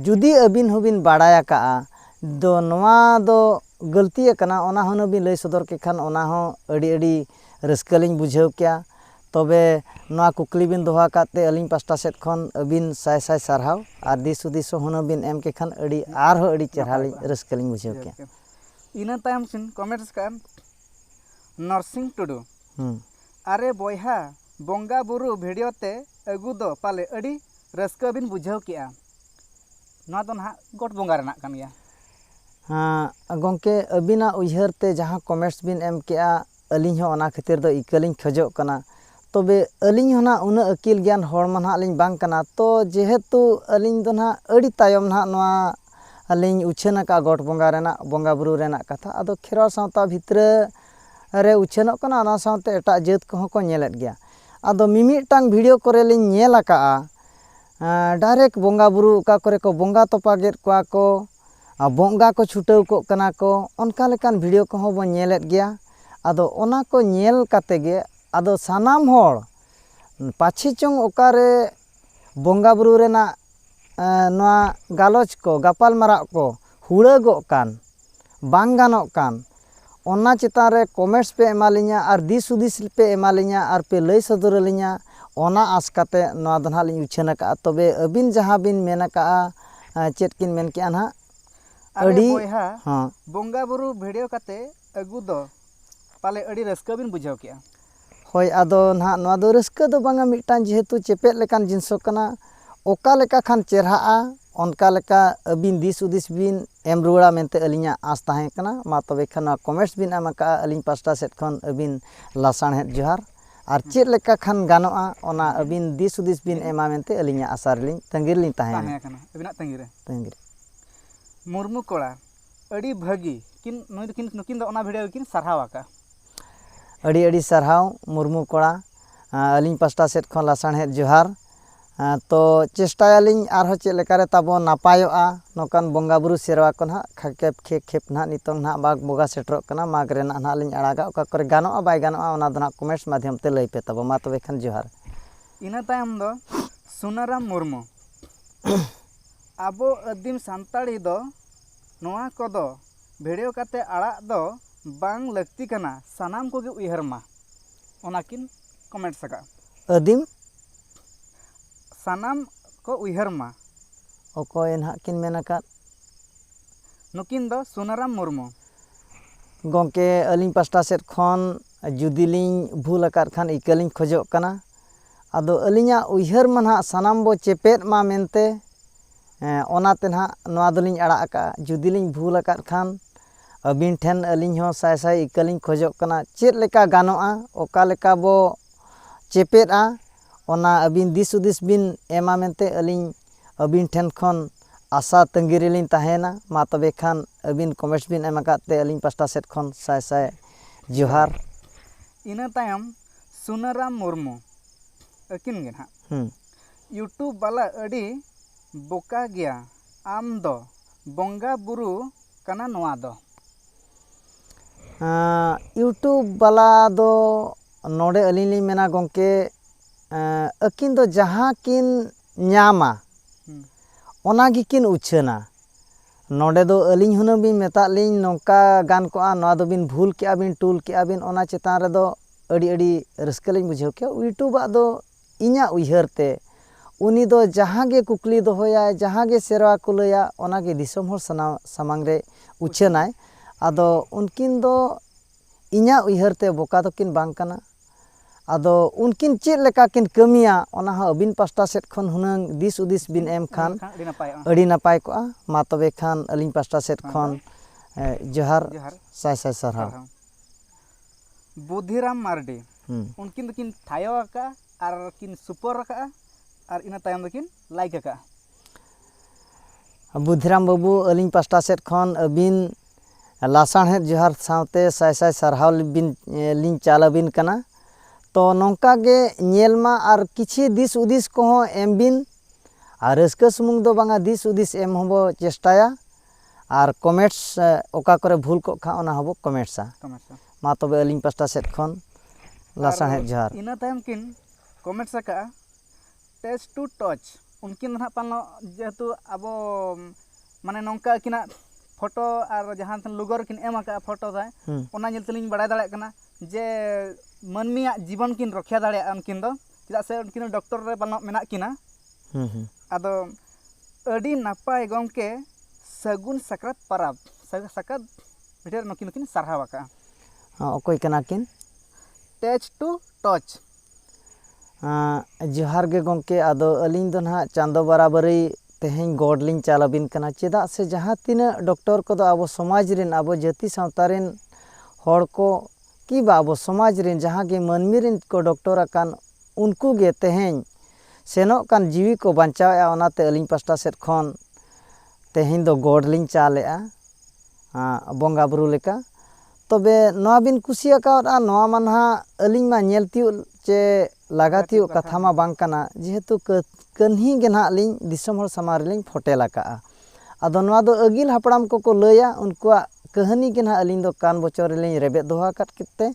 ᱡᱩᱫᱤ ᱟᱹᱵᱤᱱ ᱦᱚᱸ ᱵᱤᱱ ᱵᱟᱲᱟᱭ ᱟᱠᱟᱜᱼᱟ ᱫᱚ ᱱᱚᱣᱟ ᱫᱚ ᱜᱟᱹᱞᱛᱤ ᱟᱠᱟᱱᱟ ᱚᱱᱟ ᱦᱩᱱᱟᱹᱝ ᱵᱤᱱ ᱞᱟᱹᱭ ᱥᱚᱫᱚᱨ ᱠᱮ ᱠᱷᱟᱱ ᱚᱱᱟ ᱦᱚᱸ ᱟᱹᱰᱤ ᱟᱹᱰᱤ ᱨᱟᱹᱥᱠᱟᱹ ᱞᱤᱧ ᱵᱩᱡᱷᱟᱹᱣ ᱠᱮᱭᱟ ᱛᱚᱵᱮ ᱱᱚᱣᱟ ᱠᱩᱠᱞᱤ ᱵᱤᱱ ᱫᱚᱦᱚ ᱟᱠᱟᱫ ᱛᱮ ᱟᱹᱞᱤᱧ ᱯᱟᱥᱴᱟ ᱥᱮᱫ ᱠᱷᱚᱱ ᱟᱹᱵᱤᱱ ᱥᱟᱭ ᱥᱟᱭ ᱥᱟᱨᱦᱟᱣ ᱟᱨ ᱫᱤᱥ ᱦᱩᱫᱤᱥ ᱦᱚᱸ ᱦᱩᱱᱟᱹᱝ ᱵᱤᱱ ᱮᱢ ᱠᱮᱠᱷᱟᱱ ᱟᱹᱰᱤ ᱟᱨᱦᱚᱸ ᱟᱹᱰᱤ ᱪᱮᱦᱨᱟ ᱞᱤᱧ ᱨᱟᱹᱥᱠᱟᱹ ᱞᱤᱧ ᱵᱩᱡᱷᱟᱹᱣ ᱠᱮᱭᱟ ᱤᱱᱟᱹ ᱛᱟᱭᱚᱢ ᱠᱤᱱ ᱠᱚᱢᱮᱱᱴᱥ ᱠᱟᱜᱼᱟ ᱱᱚᱨᱥᱤᱝ ᱴᱩᱰᱩ ᱟᱨᱮ ᱵᱚᱭᱦᱟ ᱵᱚᱸᱜᱟ ᱵᱩᱨᱩ ᱵᱷᱤᱰᱤᱭᱳ ᱛᱮ ᱟᱹᱜᱩ ᱫᱚ ᱯᱟᱞᱮ ᱟᱹᱰᱤ ᱨᱟᱹᱥᱠᱟᱹ ᱵᱤᱱ ᱵᱩᱡᱷᱟᱹᱣ ᱠᱮᱜᱼᱟ ᱱᱚᱣᱟ ᱫᱚ ᱱᱟᱦᱟᱜ ᱜᱚᱴ ᱵᱚᱸᱜᱟ ᱨᱮᱱᱟᱜ ᱠᱟᱱ ᱜᱮᱭᱟ ᱜᱚᱢᱠᱮ ᱟᱹᱵᱤᱱᱟᱜ ᱩᱭᱦᱟᱹᱨ ᱛᱮ ᱡᱟᱦᱟᱸ ᱠᱚᱢᱮᱱᱴᱥ ᱵᱤᱱ ᱮᱢ ᱠᱮᱜᱼᱟ ᱟᱹᱞᱤᱧ ᱦᱚᱸ ᱚᱱᱟ ᱠᱷᱟᱹᱛᱤᱨ ᱫᱚ ᱤᱠᱟᱹ ᱞᱤᱧ ᱠᱷᱚᱡᱚᱜ ᱠᱟᱱᱟ ᱛᱚᱵᱮ ᱟᱹᱞᱤᱧ ᱦᱚᱸ ᱱᱟᱦᱟᱜ ᱩᱱᱟᱹᱜ ᱟᱹᱠᱤᱞ ᱜᱮᱭᱟᱱ ᱦᱚᱲ ᱢᱟ ᱱᱟᱦᱟᱜ ᱞᱤᱧ ᱵᱟᱝ ᱠᱟᱱᱟ ᱛᱚ ᱡᱮᱦᱮᱛᱩ ᱟᱹᱞᱤᱧ ᱫᱚ ᱱᱟᱦᱟᱜ ᱟᱹᱰᱤ ᱛᱟᱭᱚᱢ ᱱᱟᱦᱟᱜ ᱱᱚᱣᱟ ᱟᱹᱞᱤᱧ ᱩᱪᱷᱟᱹᱱ ᱟᱠᱟᱫᱼᱟ ᱜᱚᱴ ᱵᱚᱸᱜᱟ ᱨᱮᱱᱟᱜ ᱵᱚᱸᱜᱟ ᱵᱩᱨᱩ ᱨᱮᱱᱟᱜ ᱠᱟᱛᱷᱟ ᱟᱫᱚ ᱠᱷᱮᱨᱣᱟᱲ ᱥᱟᱶᱛᱟ ᱵᱷᱤᱛᱨᱤ ᱨᱮ ᱩᱪᱷᱟᱹᱱᱚᱜ ᱠᱟᱱᱟ ᱚᱱᱟ ᱥᱟᱶᱛᱮ ᱮᱴᱟᱜ ᱡᱟᱹᱛ ᱠᱚᱦᱚᱸ ᱠᱚ ᱧᱮᱞᱮᱫ ᱜᱮᱭᱟ ᱟᱫᱚ ᱢᱤᱢᱤᱫᱴᱟᱝ ᱵᱷᱤᱰᱭᱳ ᱠᱚᱨᱮ ᱞᱤᱧ ᱧᱮᱞ ᱟᱠᱟᱫᱼᱟ ᱰᱟᱭᱨᱮᱠᱴ ᱵᱚᱸᱜᱟ ᱵᱩᱨᱩ ᱚᱠᱟ ᱠᱚᱨᱮ ᱠᱚ ᱵᱚᱸᱜᱟ ᱛᱚᱯᱟᱜᱮᱫ ᱠᱚᱣᱟ ᱠᱚ ᱟᱨ ᱵᱚᱸᱜᱟ ᱠᱚ ᱪᱷᱩᱴᱟᱹᱣ ᱠᱚᱜ ᱠᱟᱱᱟ ᱠᱚ ᱚᱱᱠᱟ ᱞᱮᱠᱟᱱ ᱵᱷᱤᱰᱭᱳ ᱠᱚᱦᱚᱸ ᱵᱚᱱ ᱧᱮᱞᱮᱫ ᱜᱮᱭᱟ ᱟᱫᱚ ᱚᱱᱟ ᱠᱚ ᱧᱮᱞ ᱠᱟᱛᱮᱫ ᱜᱮ ᱟᱫᱚ ᱥᱟᱱᱟᱢ ᱦᱚᱲ ᱯᱟᱪᱷᱮ ᱪᱚᱝ ᱚᱠᱟᱨᱮ ᱵᱚᱸᱜᱟ ᱵᱩᱨᱩ ᱨᱮᱱᱟᱜ ᱱᱚᱣᱟ ᱜᱟᱞᱚᱪ ᱠᱚ ᱜᱟᱯᱟᱞᱢᱟᱨᱟᱣ ᱠᱚ ᱦᱩᱲᱟᱹᱜᱚᱜ ᱠᱟᱱ ᱵᱟᱝ ᱜᱟᱱᱚᱜ ᱠᱟᱱ ᱚᱱᱟ ᱪᱮᱛᱟᱱ ᱨᱮ ᱠᱚᱢᱮᱱᱴᱥ ᱯᱮ ᱮᱢᱟ ᱞᱤᱧᱟ ᱟᱨ ᱫᱤᱥ ᱦᱩᱫᱤᱥ ᱯᱮ ᱮᱢᱟ ᱞᱤᱧᱟ ᱟᱨ ᱯᱮ ᱞᱟᱹᱭ ᱥᱚᱫᱚᱨ ᱟᱹᱞᱤᱧᱟ ᱚᱱᱟ ᱟᱸᱥ ᱠᱟᱛᱮ ᱱᱚᱣᱟ ᱫᱚ ᱱᱟᱦᱟᱜ ᱞᱤᱧ ᱩᱪᱷᱟᱹᱱ ᱟᱠᱟᱫᱼᱟ ᱛᱚᱵᱮ ᱟᱹᱵᱤᱱ ᱡᱟᱦᱟᱸ ᱵᱤᱱ ᱢᱮᱱ ᱟᱠᱟᱫᱼᱟ ᱪᱮᱫ ᱠᱤᱱ ᱢᱮᱱ ᱠᱮᱫᱼᱟ ᱱᱟᱦᱟᱜ ᱟᱨᱮ ᱟᱹᱰᱤ ᱵᱚᱭᱦᱟ ᱦᱚᱸ ᱵᱚᱸᱜᱟ ᱵᱩᱨᱩ ᱵᱷᱤᱰᱤᱭᱳ ᱠᱟᱛᱮ ᱟᱹᱜᱩ ᱫᱚ ᱯᱟᱞᱮ ᱟᱹᱰᱤ ᱨᱟᱹᱥᱠᱟᱹ ᱵᱤᱱ ᱵᱩᱡᱷᱟᱹᱣ ᱠᱮᱜᱼᱟ ᱦᱳᱭ ᱟᱫᱚ ᱱᱟᱦᱟᱜ ᱱᱚᱣᱟ ᱫᱚ ᱨᱟᱹᱥᱠᱟᱹ ᱫᱚ ᱵᱟᱝᱟ ᱢᱤᱫᱴᱟᱝ ᱡᱮᱦᱮᱛᱩ ᱪᱮᱯᱮᱫ ᱞᱮᱠᱟᱱ ᱡᱤᱱᱤᱥ ᱦᱚᱸ ᱠᱟᱱᱟ ᱚᱠᱟ ᱞᱮᱠᱟ ᱠᱷᱟᱱ ᱪᱮᱨᱦᱟᱜᱼᱟ ᱚᱱᱠᱟ ᱞᱮᱠᱟ ᱟᱹᱵᱤᱱ ᱫᱤᱥ ᱦᱩᱫᱤᱥ ᱵᱤᱱ ᱮᱢ ᱨᱩᱣᱟᱹᱲᱟ ᱢᱮᱱᱛᱮ ᱟᱹᱞᱤᱧᱟᱜ ᱟᱸᱥ ᱛᱟᱦᱮᱸ ᱠᱟᱱᱟ ᱢᱟ ᱛᱚᱵᱮ ᱠᱷᱟᱱ ᱱᱚᱣᱟ ᱠᱚᱢᱮᱱᱴᱥ ᱵᱤᱱ ᱮᱢ ᱠᱟᱜᱼᱟ ᱟᱹᱞᱤᱧ ᱯᱟᱥᱴᱟ ᱥᱮᱫ ᱠᱷᱚᱱ ᱟᱹᱵᱤᱱ ᱞᱟᱥᱟᱲᱦᱮᱫ ᱡᱚᱦᱟᱨ ᱟᱨ ᱪᱮᱫ ᱞᱮᱠᱟ ᱠᱷᱟᱱ ᱜᱟᱱᱚᱜᱼᱟ ᱚᱱᱟ ᱟᱹᱵᱤᱱ ᱫᱤᱥ ᱦᱩᱫᱤᱥ ᱵᱤᱱ ᱮᱢᱟ ᱢᱮᱱᱛᱮ ᱟᱹᱞᱤᱧᱟᱜ ᱟᱥᱟ ᱨᱮᱞᱤᱧ ᱛᱟᱺᱜᱤ ᱨᱮᱞᱤᱧ ᱛᱟᱦᱮᱸᱭᱮᱱᱟ ᱛᱟᱦᱮᱸ ᱠᱟᱱᱟ ᱟᱹᱵᱤᱱᱟᱜ ᱛᱟᱺᱜᱤ ᱨᱮ ᱛᱟᱺᱜᱤ ᱨᱮ ᱢᱩᱨᱢᱩ ᱠᱚᱲᱟ ᱟᱹᱰᱤ ᱵᱷᱟᱹᱜᱤ ᱠᱤᱱ ᱱᱩᱭ ᱫᱚᱠᱤᱱ ᱱᱩᱠᱤᱱ ᱫᱚ ᱚᱱᱟ ᱵᱷᱤᱰᱤᱭᱳ ᱜᱮᱠᱤᱱ ᱥᱟᱨᱦᱟᱣ ᱟᱠᱟᱫᱼᱟ ᱟᱹᱰᱤ ᱟᱹᱰᱤ ᱥᱟᱨᱦᱟᱣ ᱢᱩᱨᱢᱩ ᱠᱚᱲᱟ ᱟᱹᱞᱤᱧ ᱯᱟᱥᱴᱟ ᱥᱮᱫ ᱠᱷᱚᱱ ᱞᱟᱥᱟᱬᱦᱮᱫ ᱡᱚᱦᱟᱨ ᱛᱚ ᱪᱮᱥᱴᱟᱭᱟᱞᱤᱧ ᱟᱨᱦᱚᱸ ᱪᱮᱫ ᱞᱮᱠᱟᱨᱮ ᱛᱟᱵᱚ ᱱᱟᱯᱟᱭᱚᱜᱼᱟ ᱱᱚᱝᱠᱟᱱ ᱵᱚᱸᱜᱟ ᱵᱩᱨᱩ ᱥᱮᱨᱣᱟ ᱠᱚ ᱱᱟᱦᱟᱜ ᱠᱷᱮᱯ ᱠᱷᱮᱯ ᱠᱷᱮᱯ ᱱᱟᱦᱟᱜ ᱱᱤᱛᱚᱝ ᱱᱟᱦᱟᱜ ᱢᱟᱜᱽ ᱵᱚᱸᱜᱟ ᱥᱮᱴᱮᱨᱚᱜ ᱠᱟᱱᱟ ᱢᱟᱜᱽ ᱨᱮᱱᱟᱜ ᱱᱟᱦᱟᱜ ᱞᱤᱧ ᱟᱲᱟᱜᱟ ᱚᱠᱟ ᱠᱚᱨᱮ ᱜᱟᱱᱚᱜᱼᱟ ᱵᱟᱭ ᱜᱟᱱᱚᱜᱼᱟ ᱚᱱᱟ ᱫᱚ ᱱᱟᱦᱟᱜ ᱠᱚᱢᱮᱱᱴᱥ ᱢᱟᱫᱽᱫᱷᱚᱢ ᱛᱮ ᱞᱟᱹᱭ ᱯᱮ ᱛᱟᱵᱚ ᱢᱟ ᱛᱚᱵᱮ ᱠᱷᱟᱱ ᱡᱚᱦᱟᱨ ᱤᱱᱟᱹ ᱛᱟᱭᱚᱢ ᱫᱚ ᱥᱩᱱᱟᱹᱨᱟᱢ ᱢᱩᱨᱢᱩ ᱟᱵᱚ ᱟᱹᱫᱤᱢ ᱥᱟᱱᱛᱟᱲᱤ ᱫᱚ ᱱᱚᱣᱟ ᱠᱚᱫᱚ ᱵᱷᱤᱲᱟᱹᱣ ᱠᱟᱛᱮ ᱟᱲᱟᱜ ᱫᱚ ᱵᱟᱝ ᱞᱟᱹᱠᱛᱤ ᱠᱟᱱᱟ ᱥᱟᱱᱟᱢ ᱠᱚᱜᱮ ᱩᱭᱦᱟᱹᱨ ᱢᱟ ᱚᱱᱟ ᱠᱤᱱ ᱠᱚᱢᱮᱱᱴᱥ ᱟᱠᱟᱫᱼᱟ ᱟᱹᱫᱤᱢ ᱥᱟᱱᱟᱢ ᱠᱚ ᱩᱭᱦᱟᱹᱨ ᱢᱟ ᱚᱠᱚᱭ ᱱᱟᱦᱟᱜ ᱠᱤᱱ ᱢᱮᱱ ᱟᱠᱟᱫ ᱱᱩᱠᱤᱱ ᱫᱚ ᱥᱩᱱᱟᱨᱟᱢ ᱢᱩᱨᱢᱩ ᱜᱚᱢᱠᱮ ᱟᱹᱞᱤᱧ ᱯᱟᱥᱴᱟ ᱥᱮᱫ ᱠᱷᱚᱱ ᱡᱩᱫᱤ ᱞᱤᱧ ᱵᱷᱩᱞ ᱟᱠᱟᱫ ᱠᱷᱟᱱ ᱤᱠᱟᱹ ᱞᱤᱧ ᱠᱷᱚᱡᱚᱜ ᱠᱟᱱᱟ ᱟᱫᱚ ᱟᱹᱞᱤᱧᱟᱜ ᱩᱭᱦᱟᱹᱨ ᱢᱟ ᱱᱟᱦᱟᱜ ᱥᱟᱱᱟᱢ ᱵᱚ ᱪᱮᱯᱮᱫ ᱢᱟ ᱢᱮᱱᱛᱮ ᱦᱮᱸ ᱚᱱᱟᱛᱮ ᱱᱟᱦᱟᱜ ᱱᱚᱣᱟ ᱫᱚᱞᱤᱧ ᱟᱲᱟᱜ ᱟᱠᱟᱫᱼᱟ ᱡᱩᱫᱤ ᱞᱤᱧ ᱵᱷᱩᱞ ᱟᱠᱟᱫ ᱠᱷᱟᱱ ᱟᱹᱵᱤᱱ ᱴᱷᱮᱱ ᱟᱹᱞᱤᱧ ᱦᱚᱸ ᱥᱟᱭ ᱥᱟᱭ ᱤᱠᱟᱹ ᱞᱤᱧ ᱠᱷᱚᱡᱚᱜ ᱠᱟᱱᱟ ᱪᱮᱫ ᱞᱮᱠᱟ ᱜᱟᱱᱚᱜᱼᱟ ᱚᱠᱟ ᱞᱮᱠᱟ ᱵᱚ ᱪᱮᱯᱮᱫᱼᱟ ᱚᱱᱟ ᱟᱹᱵᱤᱱ ᱫᱤᱥ ᱦᱩᱫᱤᱥ ᱵᱤᱱ ᱮᱢᱟ ᱢᱮᱱᱛᱮ ᱟᱹᱞᱤᱧ ᱟᱹᱵᱤᱱ ᱴᱷᱮᱱ ᱠᱷᱚᱱ ᱟᱥᱟ ᱛᱟᱺᱜᱤ ᱨᱮᱞᱤᱧ ᱛᱟᱦᱮᱸᱭᱮᱱᱟ ᱢᱟ ᱛᱚᱵᱮ ᱠᱷᱟᱱ ᱟᱹᱵᱤᱱ ᱠᱚᱢᱮᱱᱴᱥ ᱵᱤᱱ ᱮᱢ ᱟᱠᱟᱫ ᱛᱮ ᱟᱹᱞᱤᱧ ᱯᱟᱥᱴᱟ ᱥᱮᱫ ᱠᱷᱚᱱ ᱥᱟᱭ ᱥᱟᱭ ᱡᱚᱦᱟᱨ ᱤᱱᱟᱹ ᱛᱟᱭᱚᱢ ᱥᱩᱱᱟᱹᱨᱟᱢ ᱢᱩᱨᱢᱩ ᱟᱹᱠᱤᱱ ᱜᱮ ᱱᱟᱦᱟᱜ ᱦᱮᱸ ᱭᱩᱴᱩᱵᱽ ᱵᱟᱞᱟ ᱟᱹᱰᱤ ᱵᱚᱠᱟ ᱜᱮᱭᱟ ᱟᱢ ᱫᱚ ᱵᱚᱝᱜᱟ ᱵᱩᱨᱩ ᱠᱟᱱᱟ ᱱᱚᱣᱟ ᱫᱚ᱾ ᱭᱩᱴᱩᱵᱽ ᱵᱟᱞᱟ ᱫᱚ ᱱᱚᱰᱮ ᱟᱹᱞᱤᱧ ᱞᱤᱧ ᱢᱮᱱᱟ ᱜᱚᱢᱠᱮ ᱟᱹᱠᱤᱱ ᱫᱚ ᱡᱟᱦᱟᱸ ᱠᱤᱱ ᱧᱟᱢᱟ ᱚᱱᱟ ᱜᱮᱠᱤᱱ ᱩᱪᱷᱟᱹᱱᱟ᱾ ᱱᱚᱰᱮ ᱫᱚ ᱟᱹᱞᱤᱧ ᱦᱩᱱᱟᱹᱝ ᱵᱤᱱ ᱢᱮᱛᱟᱜ ᱞᱤᱧ ᱱᱚᱝᱠᱟ ᱜᱟᱱ ᱠᱚᱜᱼᱟ ᱱᱚᱣᱟ ᱫᱚ ᱵᱤᱱ ᱵᱷᱩᱞ ᱠᱮᱜᱼᱟ ᱵᱤᱱ ᱴᱩᱞ ᱠᱮᱜᱼᱟ ᱵᱤᱱ ᱚᱱᱟ ᱪᱮᱛᱟᱱ ᱨᱮᱫᱚ ᱟᱹᱰᱤ ᱟᱹᱰᱤ ᱨᱟᱹᱥᱠᱟᱹ ᱞᱤᱧ ᱵᱩᱡᱷᱟᱹᱣ ᱠᱮᱭᱟ ᱭᱩᱴᱩᱵᱽ ᱟᱜ ᱫᱚ ᱤᱧᱟᱜ ᱩᱭᱦᱟᱹᱨ ᱛᱮ ᱩᱱᱤ ᱫᱚ ᱡᱟᱦᱟᱸ ᱜᱮ ᱠᱩᱠᱞᱤ ᱫᱚᱦᱚᱭᱟᱭ ᱡᱟᱦᱟᱸ ᱜᱮ ᱥᱮᱨᱣᱟ ᱠᱚ ᱞᱟᱹᱭᱟ ᱚᱱᱟ ᱜᱮ ᱫᱤᱥᱚᱢ ᱦᱚᱲ ᱥᱟᱱᱟᱣ ᱥᱟᱢᱟᱝ ᱨᱮ ᱩᱪᱷᱟᱹᱱᱟᱭ ᱟᱫᱚ ᱩᱱᱠᱤᱱ ᱫᱚ ᱤᱧᱟᱜ ᱩᱭᱦᱟᱹᱨ ᱛᱮ ᱵᱚᱠᱟ ᱫᱚ ᱠᱤᱱ ᱵᱟᱝ ᱠᱟᱱᱟ ᱟᱫᱚ ᱩᱱᱠᱤᱱ ᱪᱮᱫ ᱞᱮᱠᱟ ᱠᱤᱱ ᱠᱟᱹᱢᱤᱭᱟ ᱚᱱᱟ ᱦᱚᱸ ᱟᱹᱵᱤᱱ ᱯᱟᱥᱴᱟ ᱥᱮᱫ ᱠᱷᱚᱱ ᱦᱩᱱᱟᱹᱝ ᱫᱤᱥ ᱦᱩᱫᱤᱥ ᱵᱤᱱ ᱮᱢ ᱠᱷᱟᱱ ᱟᱹᱰᱤ ᱱᱟᱯᱟᱭ ᱠᱚᱜᱼᱟ ᱢᱟ ᱛᱚᱵᱮ ᱠᱷᱟᱱ ᱟᱹᱞᱤᱧ ᱯᱟᱥᱴᱟ ᱥᱮᱫ ᱠᱷᱚᱱ ᱡᱚᱦᱟᱨ ᱥᱟᱭ ᱥᱟᱭ ᱥᱟᱨᱦᱟᱣ ᱵᱩᱫᱷᱤᱨᱟᱢ ᱢᱟᱨᱰᱤ ᱦᱩᱸ ᱩᱱᱠᱤᱱ ᱫᱚᱠᱤᱱ ᱛᱷᱟᱭᱚ ᱟᱠᱟᱜᱼᱟ ᱟᱨ ᱠᱤᱱ ᱥᱩᱯᱚᱨ ᱟᱠᱟᱜᱼᱟ ᱟᱨ ᱤᱱᱟᱹ ᱛᱟᱭᱚᱢ ᱫᱚᱠᱤᱱ ᱞᱟᱭᱤᱠ ᱟᱠᱟᱜᱼᱟ ᱵᱩᱫᱷᱤᱨᱟᱢ ᱵᱟᱹᱵᱩ ᱟᱹᱞᱤᱧ ᱯᱟᱥᱴᱟ ᱥᱮᱫ ᱠᱷᱚᱱ ᱟᱹᱵᱤᱱ ᱞᱟᱥᱟᱬᱦᱮᱫ ᱡᱚᱦᱟᱨ ᱥᱟᱶᱛᱮ ᱥᱟᱭ ᱥᱟᱭ ᱥᱟᱨᱦᱟᱣ ᱵᱤᱱ ᱞᱤᱧ ᱪᱟᱞ ᱟᱹᱵᱤᱱ ᱠᱟᱱᱟ ᱛᱚ ᱱᱚᱝᱠᱟ ᱜᱮ ᱧᱮᱞ ᱢᱟ ᱟᱨ ᱠᱤᱪᱷᱤ ᱫᱤᱥ ᱦᱩᱫᱤᱥ ᱠᱚᱦᱚᱸ ᱮᱢ ᱵᱤᱱ ᱟᱨ ᱨᱟᱹᱥᱠᱟᱹ ᱥᱩᱢᱩᱝ ᱫᱚ ᱵᱟᱝᱟ ᱫᱤᱥ ᱦᱩᱫᱤᱥ ᱮᱢ ᱦᱚᱸᱵᱚ ᱪᱮᱥᱴᱟᱭᱟ ᱟᱨ ᱠᱚᱢᱮᱱᱴᱥ ᱚᱠᱟ ᱠᱚᱨᱮ ᱵᱷᱩᱞ ᱠᱚᱜ ᱠᱷᱟᱱ ᱚᱱᱟ ᱦᱚᱸᱵᱚ ᱠᱚᱢᱮᱱᱴᱥᱟ ᱠᱚᱢᱮᱱᱴᱥᱟ ᱢᱟ ᱛᱚᱵᱮ ᱟᱹᱞᱤᱧ ᱯᱟᱥᱴᱟ ᱥᱮᱫ ᱠᱷᱚᱱ ᱞᱟᱥᱟᱬᱦᱮᱫ ᱡᱚᱦᱟᱨ ᱤᱱᱟᱹ ᱛᱟᱭᱚᱢ ᱠᱤᱱ ᱠᱚᱢᱮᱱᱴᱥ ᱟᱠᱟᱫᱼᱟ ᱴᱮᱪ ᱴᱩ ᱴᱚᱪ ᱩᱱᱠᱤᱱ ᱫᱚ ᱦᱟᱸᱜ ᱯᱟᱞᱮᱱᱚᱜ ᱡᱮᱦᱮᱛᱩ ᱟᱵᱚ ᱢᱟᱱᱮ ᱱᱚᱝᱠᱟ ᱟᱹᱠᱤᱱᱟᱜ ᱯᱷᱳᱴᱳ ᱟᱨ ᱡᱟᱦᱟᱸ ᱛᱤᱱᱟᱹᱜ ᱞᱳᱜᱳ ᱨᱮᱠᱤᱱ ᱮᱢ ᱟᱠᱟᱫᱼᱟ ᱯᱷᱳᱴᱳ ᱨᱮ ᱚᱱᱟ ᱧᱮᱞ ᱛᱮᱞᱤᱧ ᱵᱟᱲᱟᱭ ᱫᱟᱲᱮᱭᱟᱜ ᱠᱟᱱᱟ ᱡᱮ ᱢᱟᱹᱱᱢᱤᱭᱟᱜ ᱡᱤᱵᱚᱱ ᱠᱤᱱ ᱨᱚᱠᱷᱭᱟ ᱫᱟᱲᱮᱭᱟᱜᱼᱟ ᱩᱱᱠᱤᱱ ᱫᱚ ᱪᱮᱫᱟᱜ ᱥᱮ ᱩᱱᱠᱤᱱ ᱫᱚ ᱰᱚᱠᱴᱚᱨ ᱨᱮ ᱯᱟᱞᱮᱱᱚᱜ ᱢᱮᱱᱟᱜ ᱠᱤᱱᱟ ᱦᱩᱸ ᱦᱩᱸ ᱟᱫᱚ ᱟᱹᱰᱤ ᱱᱟᱯᱟᱭ ᱜᱚᱢᱠᱮ ᱥᱟᱹᱜᱩᱱ ᱥᱟᱠᱨᱟᱛ ᱯᱟᱨᱟᱵᱽ ᱥᱟᱹᱜᱩᱱ ᱥᱟᱠᱨᱟᱛ ᱵᱷᱤᱰᱤᱭᱳ ᱨᱮ ᱱᱩᱠᱤᱱ ᱦᱚᱸᱠᱤᱱ ᱥᱟᱨᱦᱟᱣ ᱟᱠᱟᱫᱼᱟ ᱦᱚᱸ ᱚᱠᱚᱭ ᱠᱟᱱᱟ ᱠᱤᱱ ᱴᱮᱪ ᱴᱩ ᱴᱚᱪ ᱡᱚᱦᱟᱨ ᱜᱮ ᱜᱚᱢᱠᱮ ᱟᱫᱚ ᱟᱹᱞᱤᱧ ᱫᱚ ᱱᱟᱦᱟᱜ ᱪᱟᱸᱫᱚ ᱵᱟᱨᱟᱵᱟᱹᱨᱤ ᱛᱮᱦᱮᱧ ᱜᱚᱰ ᱞᱤᱧ ᱪᱟᱞ ᱟᱹᱵᱤᱱ ᱠᱟᱱᱟ ᱪᱮᱫᱟᱜ ᱥᱮ ᱡᱟᱦᱟᱸ ᱛᱤᱱᱟᱹᱜ ᱰᱚᱠᱴᱚᱨ ᱠᱚᱫᱚ ᱟᱵᱚ ᱥᱚᱢᱟᱡᱽ ᱨᱮᱱ ᱟᱵᱚ ᱡᱟᱹᱛᱤ ᱥᱟᱶᱛᱟ ᱨᱮᱱ ᱦᱚᱲ ᱠᱚ ᱠᱤ ᱵᱟ ᱟᱵᱚ ᱥᱚᱢᱟᱡᱽ ᱨᱮᱱ ᱡᱟᱦᱟᱸ ᱜᱮ ᱢᱟᱹᱱᱢᱤ ᱨᱮᱱ ᱠᱚ ᱰᱚᱠᱴᱚᱨ ᱟᱠᱟᱱ ᱩᱱᱠᱩ ᱜᱮ ᱛᱮᱦᱮᱧ ᱥᱮᱱᱚᱜ ᱠᱟᱱ ᱡᱤᱣᱤ ᱠᱚ ᱵᱟᱧᱪᱟᱣᱮᱫᱼᱟ ᱚᱱᱟᱛᱮ ᱟᱹᱞᱤᱧ ᱯᱟᱥᱴᱟ ᱥᱮᱫ ᱠᱷᱚᱱ ᱛᱮᱦᱮᱧ ᱫᱚ ᱜᱚᱰ ᱞᱤᱧ ᱪᱟᱞ ᱮᱫᱼᱟ ᱵᱚᱸᱜᱟ ᱵᱩᱨᱩ ᱞᱮᱠᱟ ᱛᱚᱵᱮ ᱱᱚᱣᱟ ᱵᱤᱱ ᱠᱩᱥᱤ ᱟᱠᱟᱣᱟᱫᱼᱟ ᱱᱚᱣᱟ ᱢᱟ ᱱᱟᱦᱟᱜ ᱟᱹᱞᱤᱧ ᱢᱟ ᱧᱮᱞ ᱛᱤᱭᱳᱜ ᱪᱮ ᱞᱟᱜᱟ ᱛᱤᱭᱳᱜ ᱠᱟᱛᱷᱟ ᱢᱟ ᱵᱟᱝ ᱠᱟᱱᱟ ᱡᱮᱦᱮᱛᱩ ᱠᱟᱹᱦᱱᱤ ᱜᱮ ᱱᱟᱦᱟᱜ ᱞᱤᱧ ᱫᱤᱥᱚᱢ ᱦᱚᱲ ᱥᱟᱢᱟᱝ ᱨᱮᱞᱤᱧ ᱯᱷᱳᱴᱮᱞ ᱟᱠᱟᱫᱼᱟ ᱟᱫᱚ ᱱᱚᱣᱟ ᱫᱚ ᱟᱹᱜᱤᱞ ᱦᱟᱯᱲᱟᱢ ᱠᱚᱠᱚ ᱞᱟᱹᱭᱟ ᱩᱱᱠᱩᱣᱟᱜ ᱠᱟᱹᱦᱱᱤ ᱜᱮ ᱱᱟᱦᱟᱜ ᱟᱹᱞᱤᱧ ᱫᱚ ᱠᱟᱱ ᱵᱚᱪᱷᱚᱨ ᱨᱮᱞᱤᱧ ᱨᱮᱵᱮᱫ ᱫᱚᱦᱚ ᱟᱠᱟᱫ ᱛᱮ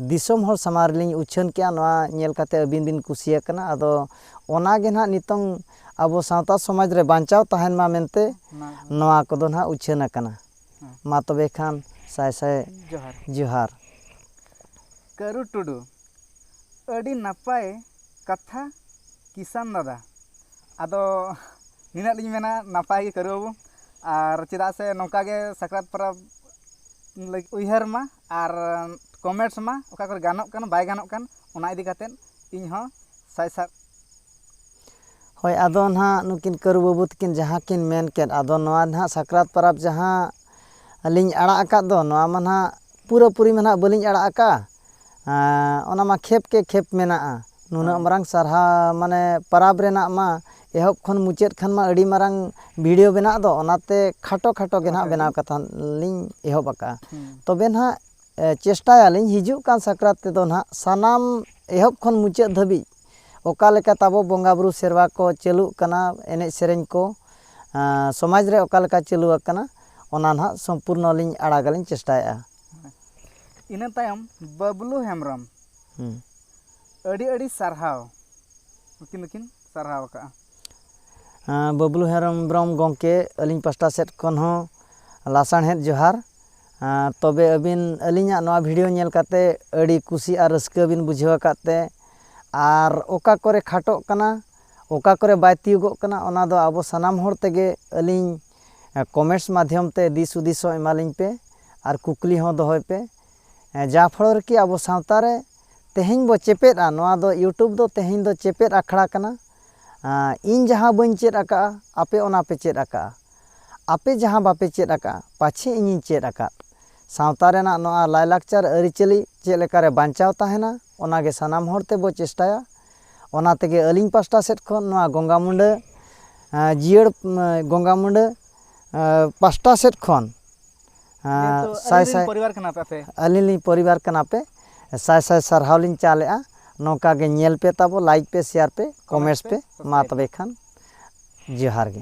ᱫᱤᱥᱚᱢ ᱦᱚᱲ ᱥᱟᱢᱟᱝ ᱨᱮᱞᱤᱧ ᱩᱪᱷᱟᱹᱱ ᱠᱮᱜᱼᱟ ᱱᱚᱣᱟ ᱧᱮᱞ ᱠᱟᱛᱮᱫ ᱟᱹᱵᱤᱱ ᱵᱤᱱ ᱠᱩᱥᱤ ᱟᱠᱟᱱᱟ ᱟᱫᱚ ᱚᱱᱟ ᱜᱮ ᱱᱟᱦᱟᱜ ᱱᱤᱛᱚᱝ ᱟᱵᱚ ᱥᱟᱶᱛᱟ ᱥᱚᱢᱟᱡᱽ ᱨᱮ ᱵᱟᱧᱪᱟᱣ ᱛᱟᱦᱮᱱ ᱢᱟ ᱢᱮᱱᱛᱮ ᱱᱚᱣᱟ ᱠᱚᱫᱚ ᱱᱟᱦᱟᱜ ᱩᱪᱷᱟᱹᱱ ᱟᱠᱟᱱᱟ ᱢᱟ ᱛᱚᱵᱮ ᱠᱷᱟᱱ ᱥᱟᱭ ᱥᱟᱭ ᱡᱚᱦᱟᱨ ᱡᱚᱦᱟᱨ ᱠᱟᱹᱨᱩ ᱴᱩᱰᱩ ᱟᱹᱰᱤ ᱱᱟᱯᱟᱭ ᱠᱟᱛᱷᱟ ᱠᱤᱥᱟᱱ ᱫᱟᱫᱟ ᱟᱫᱚ ᱱᱤᱱᱟᱹᱜ ᱞᱤᱧ ᱢᱮᱱᱟ ᱱᱟᱯᱟᱭ ᱜᱮ ᱠᱟᱹᱨᱩ ᱵᱟᱹᱵᱩ ᱟᱨ ᱪᱮᱫᱟᱜ ᱥᱮ ᱱᱚᱝᱠᱟ ᱜᱮ ᱥᱟᱠᱨᱟᱛ ᱯᱚᱨᱚᱵᱽ ᱞᱟᱹᱜᱤᱫ ᱩᱭᱦᱟᱹᱨ ᱢᱟ ᱟᱨ ᱠᱚᱢᱮᱱᱴᱥ ᱢᱟ ᱚᱠᱟ ᱠᱚᱨᱮ ᱜᱟᱱᱚᱜ ᱠᱟᱱ ᱵᱟᱭ ᱜᱟᱱᱚᱜ ᱠᱟᱱ ᱚᱱᱟ ᱤᱫᱤ ᱠᱟᱛᱮᱫ ᱤᱧ ᱦᱚᱸ ᱥᱟᱭ ᱥᱟᱭ ᱦᱳᱭ ᱟᱫᱚ ᱱᱟᱦᱟᱜ ᱱᱩᱠᱤᱱ ᱠᱟᱹᱨᱩ ᱵᱟᱹᱵᱩ ᱛᱟᱹᱠᱤᱱ ᱡᱟᱦᱟᱸ ᱠᱤᱱ ᱢᱮᱱ ᱠᱮᱫ ᱟᱫᱚ ᱱᱚᱣᱟ ᱱᱟᱦᱟᱜ ᱥᱟᱠᱨᱟᱛ ᱯᱚᱨᱚᱵᱽ ᱡᱟᱦᱟᱸ ᱞᱤᱧ ᱟᱲᱟᱜ ᱟᱠᱟᱫ ᱫᱚ ᱱᱚᱣᱟ ᱢᱟ ᱱᱟᱦᱟᱜ ᱯᱩᱨᱟᱹᱯᱩᱨᱤ ᱢᱟ ᱱᱟᱦᱟᱜ ᱵᱟᱹᱞᱤᱧ ᱟᱲᱟᱜ ᱟᱠᱟᱫᱼᱟ ᱚᱱᱟ ᱢᱟ ᱠᱷᱮᱯ ᱠᱮ ᱠᱷᱮᱯ ᱢᱮᱱᱟᱜᱼᱟ ᱱᱩᱱᱟᱹᱜ ᱢᱟᱨᱟᱝ ᱥᱟᱨᱦᱟᱣ ᱢᱟᱱᱮ ᱯᱚᱨᱚᱵᱽ ᱨᱮᱱᱟᱜ ᱢᱟ ᱮᱦᱚᱵ ᱠᱷᱚᱱ ᱢᱩᱪᱟᱹᱫ ᱠᱷᱚᱱ ᱢᱟ ᱟᱹᱰᱤ ᱢᱟᱨᱟᱝ ᱵᱷᱤᱰᱭᱳ ᱵᱮᱱᱟᱜ ᱫᱚ ᱚᱱᱟᱛᱮ ᱠᱷᱟᱴᱚ ᱠᱷᱟᱴᱚ ᱜᱮ ᱱᱟᱦᱟᱜ ᱵᱮᱱᱟᱣ ᱠᱟᱛᱷᱟ ᱞᱤᱧ ᱮᱦᱚᱵ ᱟᱠᱟᱫᱼᱟ ᱛᱚᱵᱮ ᱱᱟᱦᱟᱜ ᱪᱮᱥᱴᱟᱭᱟᱞᱤᱧ ᱦᱤᱡᱩᱜ ᱠᱟᱱ ᱥᱟᱠᱨᱟᱛ ᱛᱮᱫᱚ ᱱᱟᱦᱟᱜ ᱥᱟᱱᱟᱢ ᱮᱦᱚᱵ ᱠᱷᱚᱱ ᱢᱩᱪᱟᱹᱫ ᱫᱷᱟᱹᱵᱤᱡ ᱚᱠᱟ ᱞᱮᱠᱟ ᱛᱟᱵᱚ ᱵᱚᱸᱜᱟ ᱵᱩᱨᱩ ᱥᱮᱨᱣᱟ ᱠᱚ ᱪᱟᱹᱞᱩᱜ ᱠᱟᱱᱟ ᱮᱱᱮᱡ ᱥᱮᱨᱮᱧ ᱠᱚ ᱥᱚᱢᱟᱡᱽ ᱨᱮ ᱚᱠᱟ ᱞᱮᱠᱟ ᱪᱟᱹᱞᱩ ᱟᱠᱟᱱᱟ ᱚᱱᱟ ᱱᱟᱦᱟᱜ ᱥᱚᱢᱯᱩᱨᱱᱚ ᱞᱤᱧ ᱟᱲᱟᱜᱟ ᱞᱤᱧ ᱪᱮᱥᱴᱟᱭᱮᱜᱼᱟ ᱤᱱᱟᱹ ᱛᱟᱭᱚᱢ ᱵᱟᱹᱵᱽᱞᱩ ᱦᱮᱢᱵᱨᱚᱢ ᱟᱹᱰᱤ ᱟᱹᱰᱤ ᱥᱟᱨᱦᱟᱣ ᱩᱱᱠᱤᱱ ᱫᱚᱠᱤᱱ ᱥᱟᱨᱦᱟᱣ ᱟᱠᱟᱜᱼᱟ ᱵᱟᱹᱵᱽᱞᱩ ᱦᱮᱢᱵᱨᱚᱢ ᱜᱚᱢᱠᱮ ᱟᱹᱞᱤᱧ ᱯᱟᱥᱴᱟ ᱥᱮᱫ ᱠᱷᱚᱱ ᱦᱚᱸ ᱞᱟᱥᱟᱲᱦᱮᱫ ᱡᱚᱦᱟᱨ ᱛᱚᱵᱮ ᱟᱹᱵᱤᱱ ᱟᱹᱞᱤᱧᱟᱜ ᱱᱚᱣᱟ ᱵᱷᱤᱰᱤᱭᱳ ᱧᱮᱞ ᱠᱟᱛᱮ ᱟᱹᱰᱤ ᱠᱩᱥᱤ ᱟᱨ ᱨᱟᱹᱥᱠᱟᱹ ᱵᱤᱱ ᱵᱩᱡᱷᱟᱹᱣ ᱟᱠᱟᱫ ᱛᱮ ᱟᱨ ᱚᱠᱟ ᱠᱚᱨᱮ ᱠᱷᱟᱴᱚᱜ ᱠᱟᱱᱟ ᱚᱠᱟ ᱠᱚᱨᱮ ᱵᱟᱭ ᱛᱤᱭᱳᱜᱚᱜ ᱠᱟᱱᱟ ᱚᱱᱟ ᱫᱚ ᱟᱵᱚ ᱥᱟᱱᱟᱢ ᱦᱚᱲ ᱛᱮᱜᱮ ᱟᱹᱞᱤᱧ ᱠᱚᱢᱮᱱᱴᱥ ᱢᱟᱫᱽᱫᱷᱚᱢ ᱛᱮ ᱫᱤᱥ ᱦᱩᱫᱤᱥ ᱦᱚᱸ ᱮᱢᱟ ᱞᱤᱧ ᱯᱮ ᱟᱨ ᱠᱩᱠᱞᱤ ᱦᱚᱸ ᱫᱚᱦᱚᱭ ᱯᱮ ᱡᱟ ᱯᱷᱚᱞᱚ ᱨᱮ ᱠᱤ ᱟᱵᱚ ᱥᱟᱶᱛᱟ ᱨᱮ ᱛᱮᱦᱮᱧ ᱵᱚ ᱪᱮᱯᱮᱫᱼᱟ ᱱᱚᱣᱟ ᱫᱚ ᱤᱭᱩᱴᱩᱵᱽ ᱫᱚ ᱛᱮᱦᱮᱧ ᱫᱚ ᱪᱮᱯᱮᱫ ᱟᱠᱷᱲᱟ ᱠᱟᱱᱟ ᱤᱧ ᱡᱟᱦᱟᱸ ᱵᱟᱹᱧ ᱪᱮᱫ ᱟᱠᱟᱫᱼᱟ ᱟᱯᱮ ᱚᱱᱟ ᱯᱮ ᱪᱮᱫ ᱟᱠᱟᱫᱼᱟ ᱟᱯᱮ ᱡᱟᱦᱟᱸ ᱵᱟᱯᱮ ᱪᱮᱫ ᱟᱠᱟᱫᱼᱟ ᱯᱟᱪᱷᱮ ᱤᱧᱤᱧ ᱪᱮᱫ ᱟᱠᱟᱫ᱾ ᱥᱟᱶᱛᱟ ᱨᱮᱱᱟᱜ ᱱᱚᱶᱟ ᱞᱟᱭᱞᱟᱠᱪᱟᱨ ᱟᱹᱨᱤᱪᱟᱹᱞᱤ ᱪᱮᱫ ᱞᱮᱠᱟ ᱨᱮ ᱵᱟᱧᱪᱟᱣ ᱛᱟᱦᱮᱸᱱᱟ ᱚᱱᱟ ᱜᱮ ᱥᱟᱱᱟᱢ ᱦᱚᱲ ᱛᱮ ᱵᱚ ᱪᱮᱥᱴᱟᱭᱟ᱾ ᱚᱱᱟ ᱛᱮᱜᱮ ᱟᱹᱞᱤᱧ ᱯᱟᱥᱴᱟ ᱥᱮᱫ ᱠᱷᱚᱱ ᱱᱚᱶᱟ ᱜᱚᱝᱜᱟ ᱢᱩᱸᱰᱟᱹ ᱡᱤᱭᱟᱹᱲ ᱜᱚᱝᱜᱟ ᱢᱩᱸᱰᱟᱹ ᱯᱟᱥᱴᱟ ᱥᱮᱫ ᱠᱷᱚᱱ ᱥᱟᱭ ᱥᱟᱭ ᱟᱹᱞᱤᱧ ᱞᱤᱧ ᱯᱚᱨᱤᱵᱟᱨ ᱠᱟᱱᱟ ᱯᱮ ᱥᱟᱭ ᱥᱟᱭ ᱥᱟᱨᱦᱟᱣ ᱞᱤᱧ ᱪᱟᱞ ᱮᱫᱼᱟ᱾ ᱱᱚᱝᱠᱟ ᱜᱮ ᱧᱮᱞ ᱯᱮ ᱛᱟᱵᱚ ᱞᱟᱭᱤᱠ ᱯᱮ ᱥᱮᱭᱟᱨ ᱯᱮ ᱠᱚᱢᱮᱸᱴᱥ ᱯᱮ ᱢᱟ ᱛᱚᱵᱮ ᱠᱷᱟᱱ ᱡᱚᱦᱟᱨ ᱜᱮ᱾